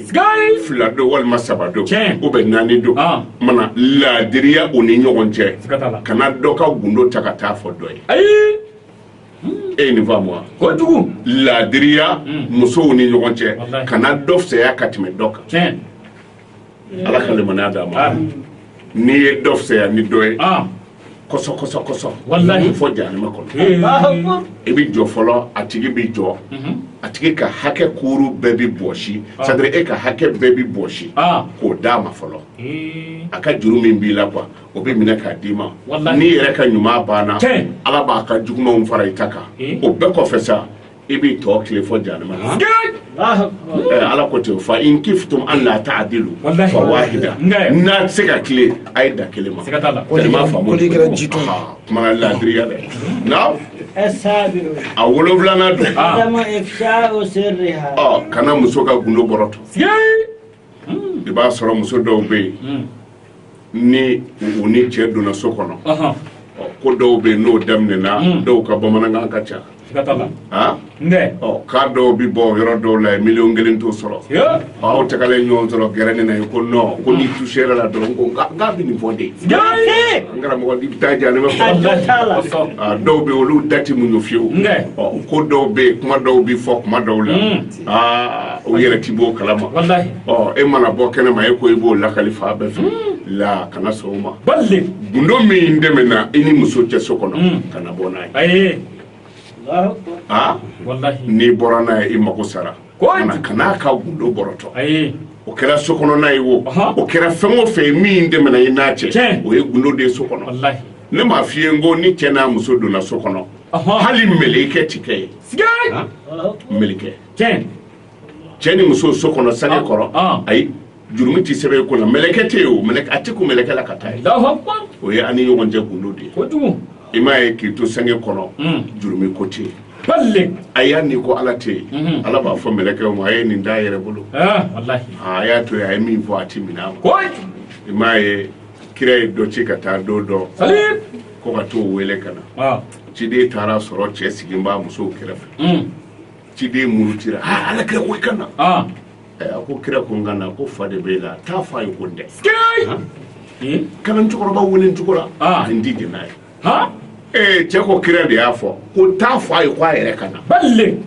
fila don walima saba don u bɛ naani don mana laadiriya u ni ɲɔgɔn cɛ kana dɔ ka gundo ta ka taa fɔ dɔ ye ayi e nin faamu wa kojugu laadiriya hmm. musow ni ɲɔgɔn cɛ kana dɔ fisaya ka tɛmɛ dɔ kan ala ka limaniya d'a ma n'i ye dɔ fisaya ni dɔ ye ah. kɔsɔkɔsɔkɔsɔ walahi fɔ jahanama kɔnɔ i bɛ jɔ fɔlɔ a tigi bɛ jɔ mhm. a tigi ka hakɛ kuuru bɛɛ bɛ bɔsi ah. c'est-à-dire e ka hakɛ bɛɛ bɛ bɔsi ah. k'o d'a ma fɔlɔ a ka juru min b'i la quoi o bɛ minɛ k'a d'i ma n'i yɛrɛ ka ɲuman banna ala b'a ka jugumanw fara i ta kan o bɛɛ kɔfɛ sa i b'i tɔ tilen fɔ jahanama ala ko ten fa in kiftum an la ta'dilu fa wahida n'a tɛ se ka tilen a ye dan kelen ma kɛra ji kuma laadiriya dɛ na a wolonwulanan don kana muso ka gundo bɔrɔtɔ i b'a sɔrɔ muso dɔw bɛ yen ni u ni cɛ donna so kɔnɔ ko dɔw bɛ yen n'o daminɛna dɔw ka bamanankan ka ca k'a dɔw bɛ bɔ yɔrɔ dɔw la miliyɔn kelen t'o sɔrɔ aw tagalen ɲɔgɔn sɔrɔ gɛrɛ ne na ko non ko n'i touché la dɔrɔn ko bɛ nin fɔ de n karamɔgɔ bɛ taa jahanama kɔnɔ dɔw bɛ olu da ti muɲu fiyewu ko dɔw bɛ kuma dɔw bɛ fɔ kuma dɔw la aa o yɛrɛ ti b'o kalama walahi ɔ e mana bɔ kɛnɛma e ko i b'o lakali fan bɛɛ fɛ la kana sɔn o ma balle gundo min tɛmɛna i ni muso cɛ so kɔnɔ Mm. kana bɔ n'a ye aye Allahu akbar. aa walahi n'i bɔra n'a ye i mago sara Ko- kana kan'a ka gundo bɔrɔtɔ aye o kɛra so kɔnɔna ye wo Ɔhɔ. o kɛra fɛn o fɛn ye min tɛmɛna i n'a cɛ Tiɲɛ. o ye gundo de ye so kɔnɔ walahi ne m'a f'i ye n ko ni cɛ n'a muso donna so kɔnɔ Ɔhɔ. hali mɛlɛkɛ ti kɛ yen mɛlɛkɛ cɛ ni muso so kɔnɔ sange ah, kɔrɔ ah. ayi jurumi tɛ sɛbɛn i kunna mɛlɛkɛ tɛ yen o a tɛ ko mɛlɛkɛ la ka taa yen o ye an ni ɲɔgɔn cɛ gundo de ye i m'a ye k'i to sange kɔnɔ hmm. jurumi ko tɛ yen a y'a ni ko ala tɛ yen hmm. ala b'a fɔ mɛlɛkɛw ma a ye nin d'a yɛrɛ bolo ah, a y'a to yen a ye min fɔ a tɛ minɛ a ma i m'a ye kira ye dɔ ci ka taa don dɔ ko ka t'o wele ka na ciden taara sɔrɔ cɛ sigin b'a musow kɛrɛfɛ hmm. ciden murutira ha ala kira ko i ka na ah. eh, a ko kira ko n ka na ko fa de b'e la taa fɔ a ye ko n tɛ hmm? kalan cɛkɔrɔba wele cogo la ah. a n ti jɛn n'a ye ee eh, cɛ ko kira de y'a fɔ ko taa fɔ a ye ko a yɛrɛ ka na bale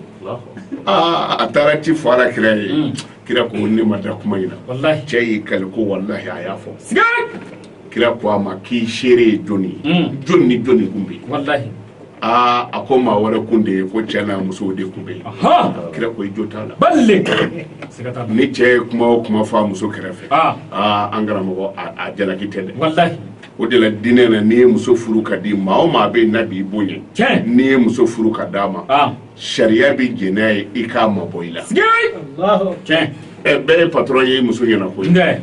ah, a taara ci fɔ ala kira ye hmm. kira ko ne ma da kuma in na cɛ y'i kali ko walahi a y'a fɔ kira ko a ma k'i seere ye jɔni ye mm. jɔni ni jɔni kun bɛ yen aa a ko maa wɛrɛ kun tɛ yen ko cɛ n'a musow de kun bɛ yen kira ko i jo t'a la bale ni cɛ ye kuma o kuma fɔ a muso kɛrɛfɛ ah. aa an karamɔgɔ a jalaki tɛ dɛ o de la diinɛ na n'i ye muso furu ka di maa o maa bɛ yen n'a b'i bonya n'i ye muso furu ka d'a ma ah. sariya bɛ jɛn n'a ye i k'a mabɔ i la ɛ bɛɛ ye patɔrɔn ye i muso ɲɛna koyi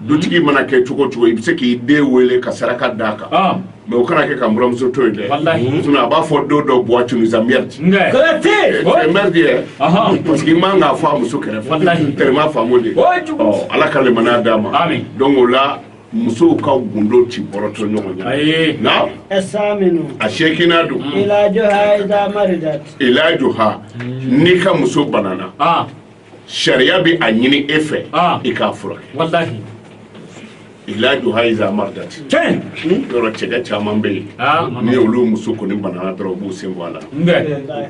dutigi mana kɛ cogo cogo i bɛ se k'i den wele ka saraka d'a kan ah. mais o kana kɛ ka buramuso to yen dɛ a b'a fɔ don dɔ buwa tunisa mɛriti mɛriti yɛ parce que i man k'a fɔ a muso kɛrɛfɛ tɛrɛma faamu dɛ ala ka limaniya d'a ma donc o la musow ka gundo ti bɔrɔtɔ ɲɔgɔn ɲɛ na a seeginan don ilajuha n'i ka muso banana ah. sariya bɛ a ɲini e fɛ ah. i k'a furakɛ ilajuha iza maridati tiɲɛ hmm? yɔrɔ cɛkɛ caman bɛ yen ah, ni olu muso kɔni banana dɔrɔn u b'u sen bɔ a la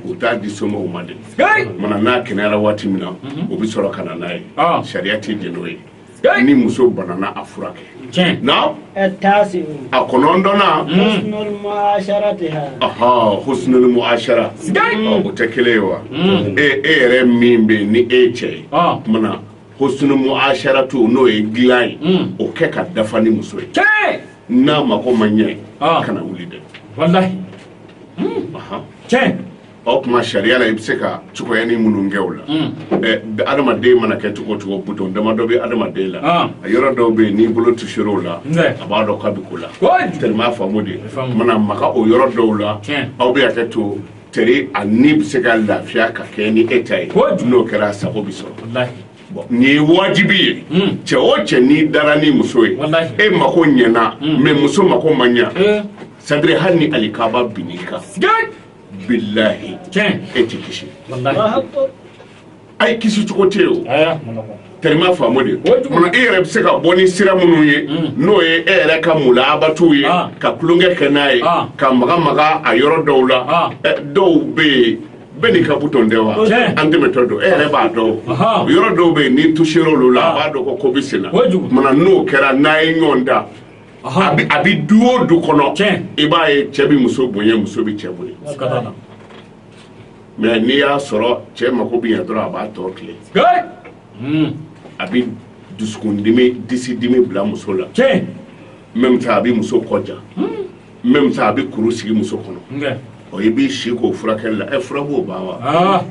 u t'a di somɔgɔw ma dɛ mana n'a kɛnɛyara waati min na mhm. u bɛ sɔrɔ ka na n'a ye ah. sariya tɛ jɛn n'o ye ni muso banana a furakɛ tiɲɛ na taasi a kɔnɔntɔnnan husnul muasharatiha ɔhɔ husnul muashara ɔ o tɛ kelen ye wa e e yɛrɛ min bɛ yen ni e ye cɛ ye ɔ kumana husnul muasharatu n'o ye dilan ye o kɛ ka dafa ni muso ye tiɲɛ n'a mako ma ɲɛ Ɔ. kana wuli dɛ walahi ɔhɔ tiɲɛ o kuma sariya la i bɛ se ka cogoyani minnu kɛ o la hmm. adamaden mana kɛ cogo cogo butɔn dama dɔ bɛ adamaden la ah. a yɔrɔ dɔw bɛ yen n'i bolo tusera o la a b'a dɔn k'a bɛ ko la tɛrɛmɛ faamu dɛ mana maga o yɔrɔ dɔw la aw bɛ hakɛ to teri a ni bɛ se ka lafiya ka kɛ ni e ta ye n'o kɛra a sago bɛ sɔrɔ nin ye wajibi ye hmm. cɛ o cɛ n'i dara ni muso ye e mako ɲɛna mais hmm. muso mako ma ɲa eh. sadiri hali ni alikaba bin'i kan bilahi tiɲɛ e tɛ kisi a ye kisi cogo tɛ o tɛrɛma faamu dɛ mana e yɛrɛ bɛ se ka bɔ ni sira minnu ye mm. n'o ye e yɛrɛ ka mulaabatiw ye ah. ka tulonkɛ kɛ n'a ye ah. ka maga maga a yɔrɔ dɔw la ah. eh, dɔw bɛ yen bɛɛ n'i ka butɔn tɛ wa an tɛmɛtɔ don e yɛrɛ b'a dɔn yɔrɔ dɔw bɛ yen n'i tusera olu la a b'a dɔn ko ko bɛ sen na mana n'o kɛra n'a ye ɲɔgɔn da a bɛ du o du kɔnɔ i b'a ye cɛ bɛ muso bonya muso bɛ cɛ bonya mɛ n'i y'a sɔrɔ cɛ mako bɛ yan dɔrɔn a b'a to tile hmm. a bɛ dusukundimi disidimi bila muso la même temps a bɛ muso kɔ ja hmm. même temps a bɛ kuru sigi muso kɔnɔ o i b'i si k'o furakɛli la e fura b'o ban wa ah.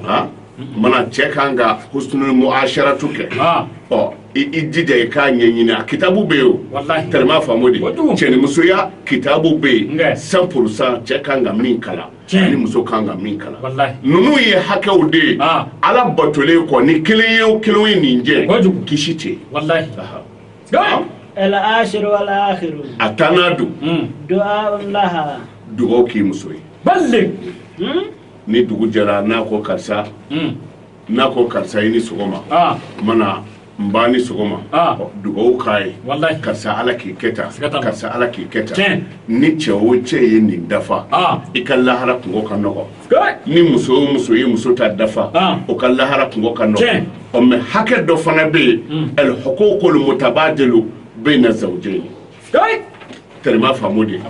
Ah. mana cɛ kan ka husnul muasharatu kɛ ah. ɔ i jija i k'a ɲɛɲini a kitabu bɛ yen tɛrɛma faamu dɛ cɛnimusoya kitabu bɛ yen cent pour cent cɛ kan ka min k'a la ani muso kan ka min k'a la ninnu ye hakɛw de ye ala batolen kɔ ni kelen ye o kelen ye nin jɛ kisi tɛ a tannan don dugawu k'i muso ye ni dugu jɛra n'a ko karisa n'a ko karisa i ni sɔgɔma mana n ba ni sɔgɔma dugawu k'a ye karisa ala k'i kɛ karisa ala k'i kɛ tan ni cɛ o cɛ ye nin dafa i ka lahara kunko ka nɔgɔ ni muso o muso ye muso ta dafa ah. o ka lahara kunko ka nɔgɔ ɔ mɛ hakɛ dɔ fana bɛ yen hmm. ɛl huququl mutabadilu bayna zawjayni tɛrɛma faamu dɛ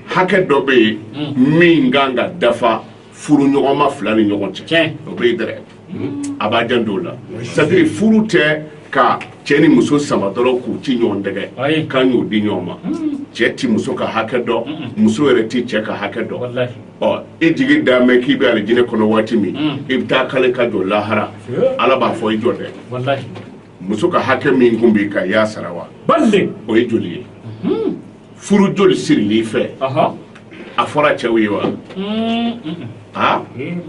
hakɛ dɔ bɛ yen hmm. min kan ka dafa furuɲɔgɔnma fila ni ɲɔgɔn cɛ o bɛ yen dɛrɛ a b'a janto o la c'est-à-dire furu tɛ ka cɛ ni muso sama dɔrɔn k'u ci ɲɔgɔn tɛgɛ k'an y'o di ɲɔgɔn ma cɛ tɛ muso ka hakɛ dɔn muso yɛrɛ tɛ cɛ ka hakɛ dɔn ɔ e jigi da mɛn k'i bɛ alijinɛ kɔnɔ waati min i bɛ taa k'ale ka jɔ lahara ala b'a fɔ i jɔ dɛ muso ka hakɛ min tun b'i kan i y'a sara wa o ye joli ye furu joli sirili fɛ a fɔra cɛw ye wa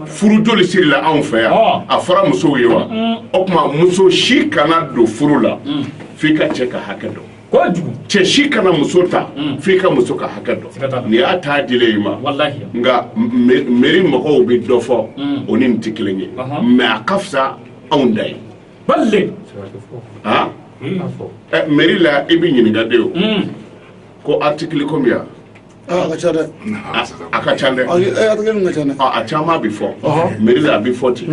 furu joli sirila anw fɛ yan a fɔra musow ye wa o kuma muso si kana don furu la fo i ka cɛ ka hakɛ dɔn cɛ si kana muso ta mm. fo i ka muso ka hakɛ dɔn ni y'a taa dile i ma nka meri mɔgɔw bɛ dɔ fɔ mm. o ni nin tɛ kelen ye mɛ a ka fisa anw ta ye ba meri la i bɛ ɲininka de o ko article combien a ka ca dɛ a ka ca dɛ a caman bɛ fɔ meri la a bɛ fɔ ten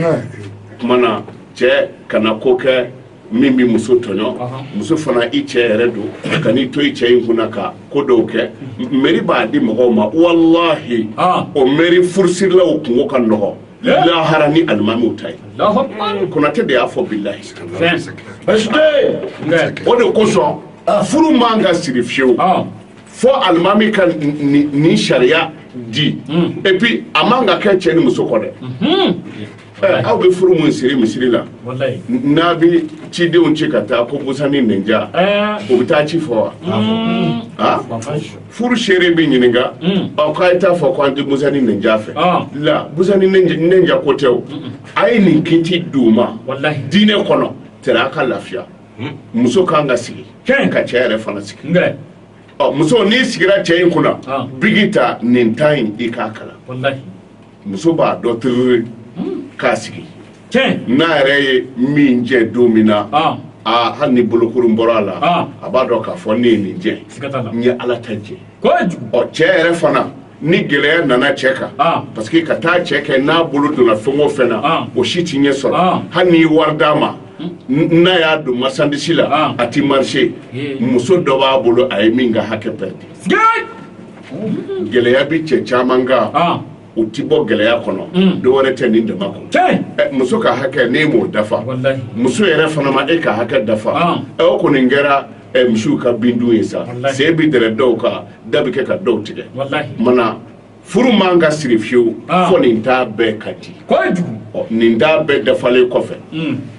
kuma na cɛ kana ko kɛ min bɛ muso tɔɲɔ muso fana i cɛ yɛrɛ don kan'i to i cɛ in kunna ka ko dɔw kɛ meri b'a di mɔgɔw ma walahi o meri furusirilaw kunko ka nɔgɔ lahara ni alimamiw ta ye konatɛ de y'a fɔ bilahi o de kosɔn furu man ka siri fiyewu fo alimami ka nin sariya di hmm. et puis a man ka kɛ cɛ ni muso kɔ dɛ hmm. eh, aw bɛ furu mun siri misiri la n'a bɛ cidenw ci ka taa ko busani ninja eh. o bɛ taa ci fɔ wa hmm. ah? furu seere bɛ ɲininka ɔ k'a ye t'a fɔ ko an tɛ busani ninja fɛ la busani ninja ko tɛ o a ye nin kiti di u ma diinɛ kɔnɔ tɛrɛ a ka lafiya muso ka kan ka sigi ka cɛ yɛrɛ fana sigi ɔ muso n'i sigira cɛ in kunna biki ta nin ta in i k'a kalan muso b'a dɔ tiiri k'a sigi n'a yɛrɛ ye min jɛ don min na hali ni bolokurun bɔra a la a b'a dɔn k'a fɔ ne ye nin jɛ n ye ala ta jɛ ɔ cɛ yɛrɛ fana ni gɛlɛya nana cɛ kan parce que ka taa cɛ kɛ n'a bolo donna fɛn o fɛn na o si tɛ ɲɛ sɔrɔ hali n'i wari d'a ma n'a y'a don masandisi la a tɛ marché muso dɔ b'a bolo a ye min ka hakɛ pɛrɛdi gɛlɛya bɛ cɛ caman kan u tɛ bɔ gɛlɛya kɔnɔ mm. dɔ wɛrɛ tɛ nin dama kɔ muso ka hakɛ n'e m'o dafa muso yɛrɛ fana ma e ka hakɛ dafa ɛ o kɔni kɛra misiw ka bindun ye sa sen bɛ dɛrɛ dɔw kan da bɛ kɛ ka dɔw tigɛ mana furu man ka siri fiyewu fo nin ta bɛɛ ka di nin ta bɛɛ dafalen kɔfɛ mm.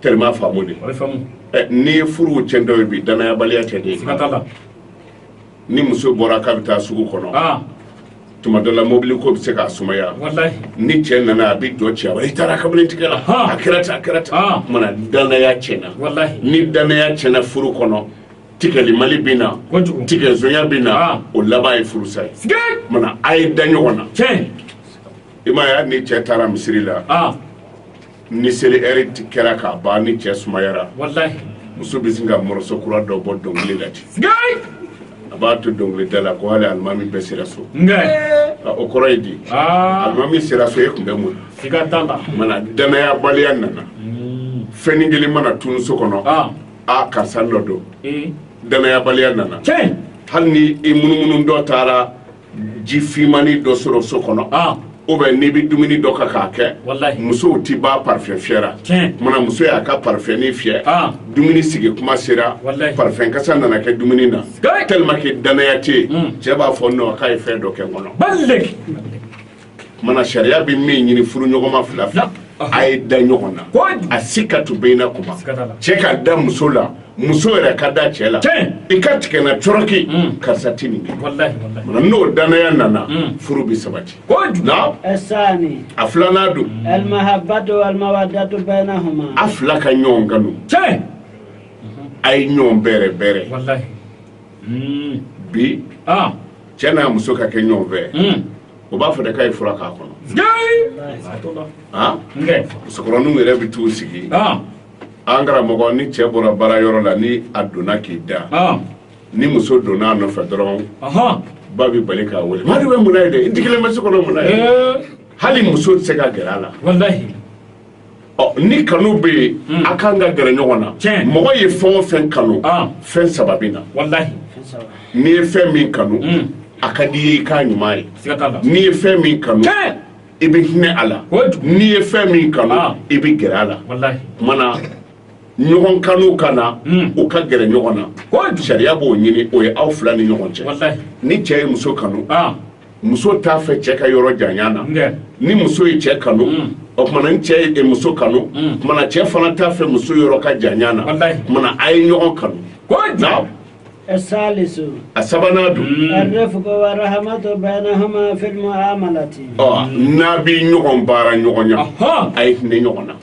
tellement faamu de, a bɛ faamu, ɛ n'i ye furuw tiɲɛtɔ ye bi danayabaliya tɛ de, siga t'a la, ni muso bɔra k'a bɛ taa sugu kɔnɔ, aa, tuma dɔ la mobili ko bɛ se k'a sumaya, walahi, ni cɛ nana a bɛ jɔ cɛ a b'a fɔ, i taara kabini tigɛ la, Ahan. a kɛra ten a kɛra ten, Aa. o kumana danaya tiɲɛna, walahi, ni danaya tiɲɛna furu kɔnɔ tigɛlimali bɛ na, kojugu, tigɛzonya bɛ na, Aa. o laban ye furusa ye, siga, o kumana a ye da ɲɔgɔn na, tiɲɛ, i m'a ye hali ni cɛ taara misiri la, aa, ni seli ɛri tɛ kɛra k'a ban ni cɛ sumayara walahi muso bɛ sin ka mɔrɔso kura dɔ bɔ dɔnkili la ten a b'a to dɔnkilida la ko hali alimami bɛɛ sera so o kɔrɔ ye di alimami sera so e tun bɛ mun mana danayabaliya nana hmm. fɛn kelen mana tunun so kɔnɔ ah. a karisa dɔ don eh. danayabaliya nana hali ni i munumunutɔ taara ji finmani dɔ sɔrɔ so kɔnɔ ah. ou bien n'i bɛ dumuni dɔ kan k'a kɛ musow tɛ ban parfum fiyɛ la mana muso y'a ka parfum fiyɛ ah. dumuni sigi kuma sera parfum kasa nana kɛ dumuni na tellement que danaya tɛ yen hmm. cɛ b'a fɔ non k'a ye fɛn dɔ kɛ n kɔnɔ tuma na sariya bɛ min ɲini furuɲɔgɔnma fila fila a ye da ɲɔgɔn na asikatu bayinahuma cɛ ka da muso la muso yɛrɛ ka da cɛ la i ka tigɛ na cɔrɔki mm. karisa tɛ nin kɛ mana n'o danaya nana mm. furu bɛ sabati a filanan don a fila ka ɲɔgɔn kanu a ye ɲɔgɔn bɛrɛ bɛrɛ mm. bi ah. cɛ n'a muso ka kɛ ɲɔgɔn fɛ o b'a fɔ de k'a ye fura k'a kɔnɔ musokɔrɔninw yɛrɛ bɛ t'u sigi an karamɔgɔ ni cɛ bɔra baara yɔrɔ la ni a donna k'i da ni muso donna a nɔfɛ dɔrɔn ba bɛ bali k'a wele Madu bɛ mun na yen dɛ i digilen bɛ so kɔnɔ mun na yen hali muso tɛ se ka gɛrɛ a la ni kanu bɛ yen hmm. a kan ka gɛrɛ ɲɔgɔn na mɔgɔ ye fɛn o fɛn kanu ah. fɛn saba bɛ na n'i ye fɛn min kanu hmm. a ka di i ye i k'a ɲuman ye n'i ye fɛn min kanu i bɛ hinɛ a la n'i ye fɛn min kanu ah. i bɛ gɛrɛ a la mana ɲɔgɔn kanu ka na hmm. u ka gɛrɛ ɲɔgɔn na sariya b'o ɲini o ye aw fila ni ɲɔgɔn cɛ ni cɛ ye muso kanu ah. muso t'a fɛ cɛ ka yɔrɔ janya na ni muso ye cɛ kanu mm. o tuma na ni cɛ ye muso kanu mm. tuma na cɛ fana t'a fɛ muso yɔrɔ ka janya na tuma na a ye ɲɔgɔn kanu a sabanan don n'a bɛ ɲɔgɔn baaraɲɔgɔnya a ye hinɛ ɲɔgɔn na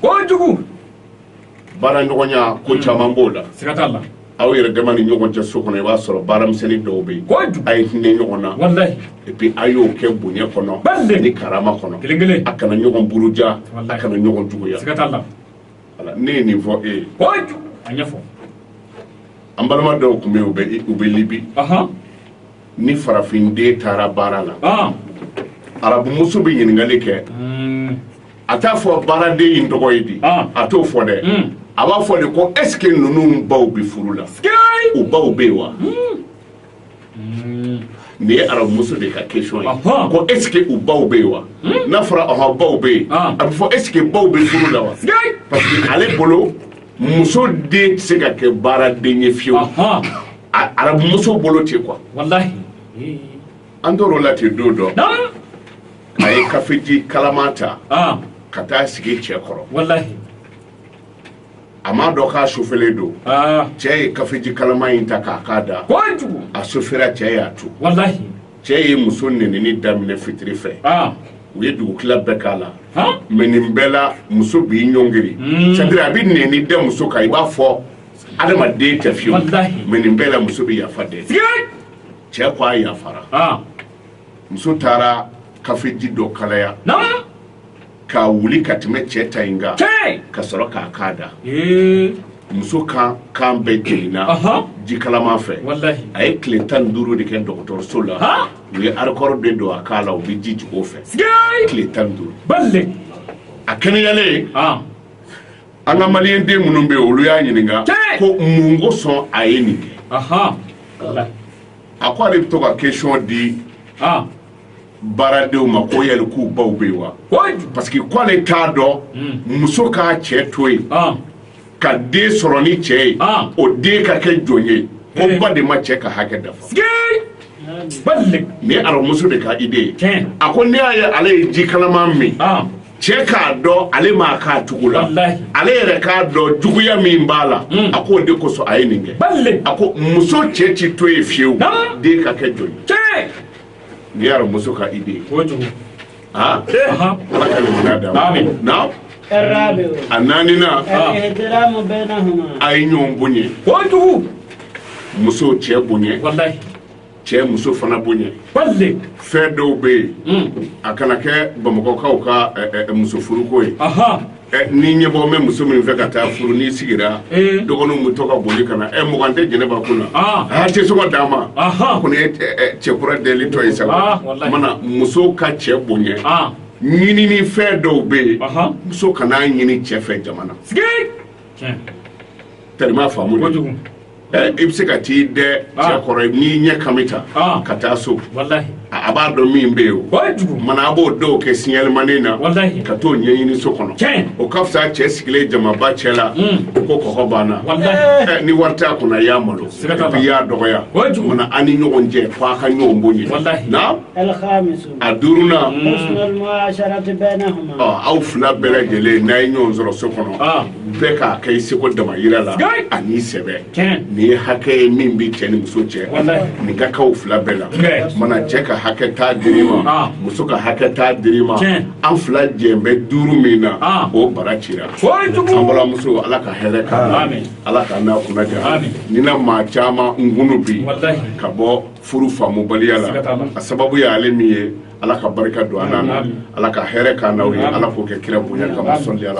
baaraɲɔgɔnya ko caman b'o la siga t'a la aw yɛrɛ dama ni ɲɔgɔn cɛ so kɔnɔ i b'a sɔrɔ baaramisɛnnin dɔw bɛ yen kojugu a ye hinɛ ɲɔgɔn na walayi et puis a y'o kɛ bonya kɔnɔ ni karama kɔnɔ a kana ɲɔgɔn buruja a Walayi. kana ɲɔgɔn juguya siga t'a la Voilà, ne ye nin fɔ e ye kojugu a ɲɛfɔ an balima dɔw tun bɛ yen u bɛ Libi ahan ni farafinden taara baara la aa arabumuso bɛ ɲininkali kɛ Mm, a t'a fɔ baaraden in tɔgɔ ye di ah. a t'o fɔ dɛ hmm. a b'a fɔ de ko est ce que ninnu baw bɛ furu la u baw bɛ yen wa hmm. Hmm. nin ye arabumuso de ka question ye ko est ce que u baw bɛ yen wa n'a fɔra ɔhɔn baw bɛ yen ah. a b'a fɔ est ce que baw bɛ furu la wa parce que ale bolo muso den tɛ se ka kɛ baaraden ye fiyewu arabumuso bolo tɛ quoi an tor'o la ten don dɔ. a ye kafeji kalaman ta ah. ka taa sigi cɛ kɔrɔ walahi a m'a dɔn k'a sofelen don ah. cɛ ye kafeji kalaman in ta k'a k'a da kojugu a sofera cɛ y'a tu walahi cɛ ye muso nenini daminɛ fitiri fɛ ah. u ye dugutila bɛɛ k'a la mais nin bɛɛ la muso b'i ɲɔngiri hmm. c'est à dire a bɛ neni da muso kan i b'a fɔ adamaden tɛ fiyewu mais nin bɛɛ la muso bɛ yafa dɛ cɛ ko a yafara muso taara kafeji dɔ kalaya k'a wuli ka tɛmɛ cɛ ta in kan ka sɔrɔ k'a k'a da muso kan bɛɛ jenina ji kalaman fɛ a ye tile tan ni duuru de kɛ dɔgɔtɔrɔso la u ye arikɔrɔ de don a kan la u bɛ ji jigin o fɛ tile tan ni duuru a kɛnɛyalen an ka maliyɛn den minnu bɛ yen olu y'a ɲininka ko mun kosɔn a ye nin kɛ a ko ale bɛ to ka question di baaradenw ma ko yali k'u baw bɛ yen wa parce que ko ale t'a dɔn hmm. muso k'a cɛ to yen ka den sɔrɔ ni cɛ ye o den ka kɛ jɔn ye ko eh. ba de ma cɛ ka hakɛ dafa ni aramuso de ka idée ye a ko n'i y'a ye ale ye ji kalaman min cɛ k'a dɔn ale m'a k'a tugu la ale yɛrɛ k'a dɔn juguya min b'a la hmm. a k'o de kosɔn a ye nin kɛ a ko muso cɛ ci to yen fiyewu den ka kɛ jɔn ye ni aramuso ka idée ala ka ɲɔgɔnya d'a ma na a naaninan a ye ɲɔgɔn bonya muso cɛ bonya cɛ muso fana bonya bale fɛn dɔw bɛ yen hmm. a kana kɛ bamakɔkaw ka eh, eh, eh, muso furuko ye ni ɲɛbɔ bɛ muso min fɛ ka taa furu n'i sigira dɔgɔninw bɛ to ka boli ka na ɛ mugan tɛ jɛnɛba kun na ah. a tɛ sɔn ka d'a ma ko nin ye cɛ kura delitɔ ye sa ah, mana muso ka cɛ bonya ah. ɲinini fɛn dɔw bɛ yen muso kana ɲini cɛ fɛ jama na tɛrɛma faamu i bɛ se ka t'i dɛ ah. cɛ kɔrɔ n'i ɲɛ kami ta ah. ka taa so a b'a dɔn min bɛ yen mana a b'o dɔw kɛ siɲalimanin na ka t'o ɲɛɲini so kɔnɔ o ka fisa cɛ sigilen jamaba cɛ la hmm. o ko kɔgɔ banna eh, ni wari t'a kun na i y'a malo i y'a dɔgɔya mana an ni ɲɔgɔn cɛ fo a ka ɲɔgɔn bonya na a duurunan hmm. aw fila bɛɛ lajɛlen n'a ye ɲɔgɔn sɔrɔ so kɔnɔ ah. bɛɛ k'a kɛ i seko damayira la an'i sɛbɛ nin ye hakɛ ye min bɛ cɛ ni muso cɛ nin ka k'aw fila bɛɛ la mana cɛ ka hakɛ t'a diri ma ah. muso ka hakɛ t'a diri ma an fila jɛn bɛ duuru min na ah. o bara cira an balimamuso ala ka hɛrɛ k'a la ala ka n'a kunna ja nin na maa caman kunun bi ka bɔ furu faamubaliya la a sababu y'ale min ye ala ka barika don an na ala ka hɛrɛ k'an n'aw ye ala k'o kɛ kira bonya kama sɔli ala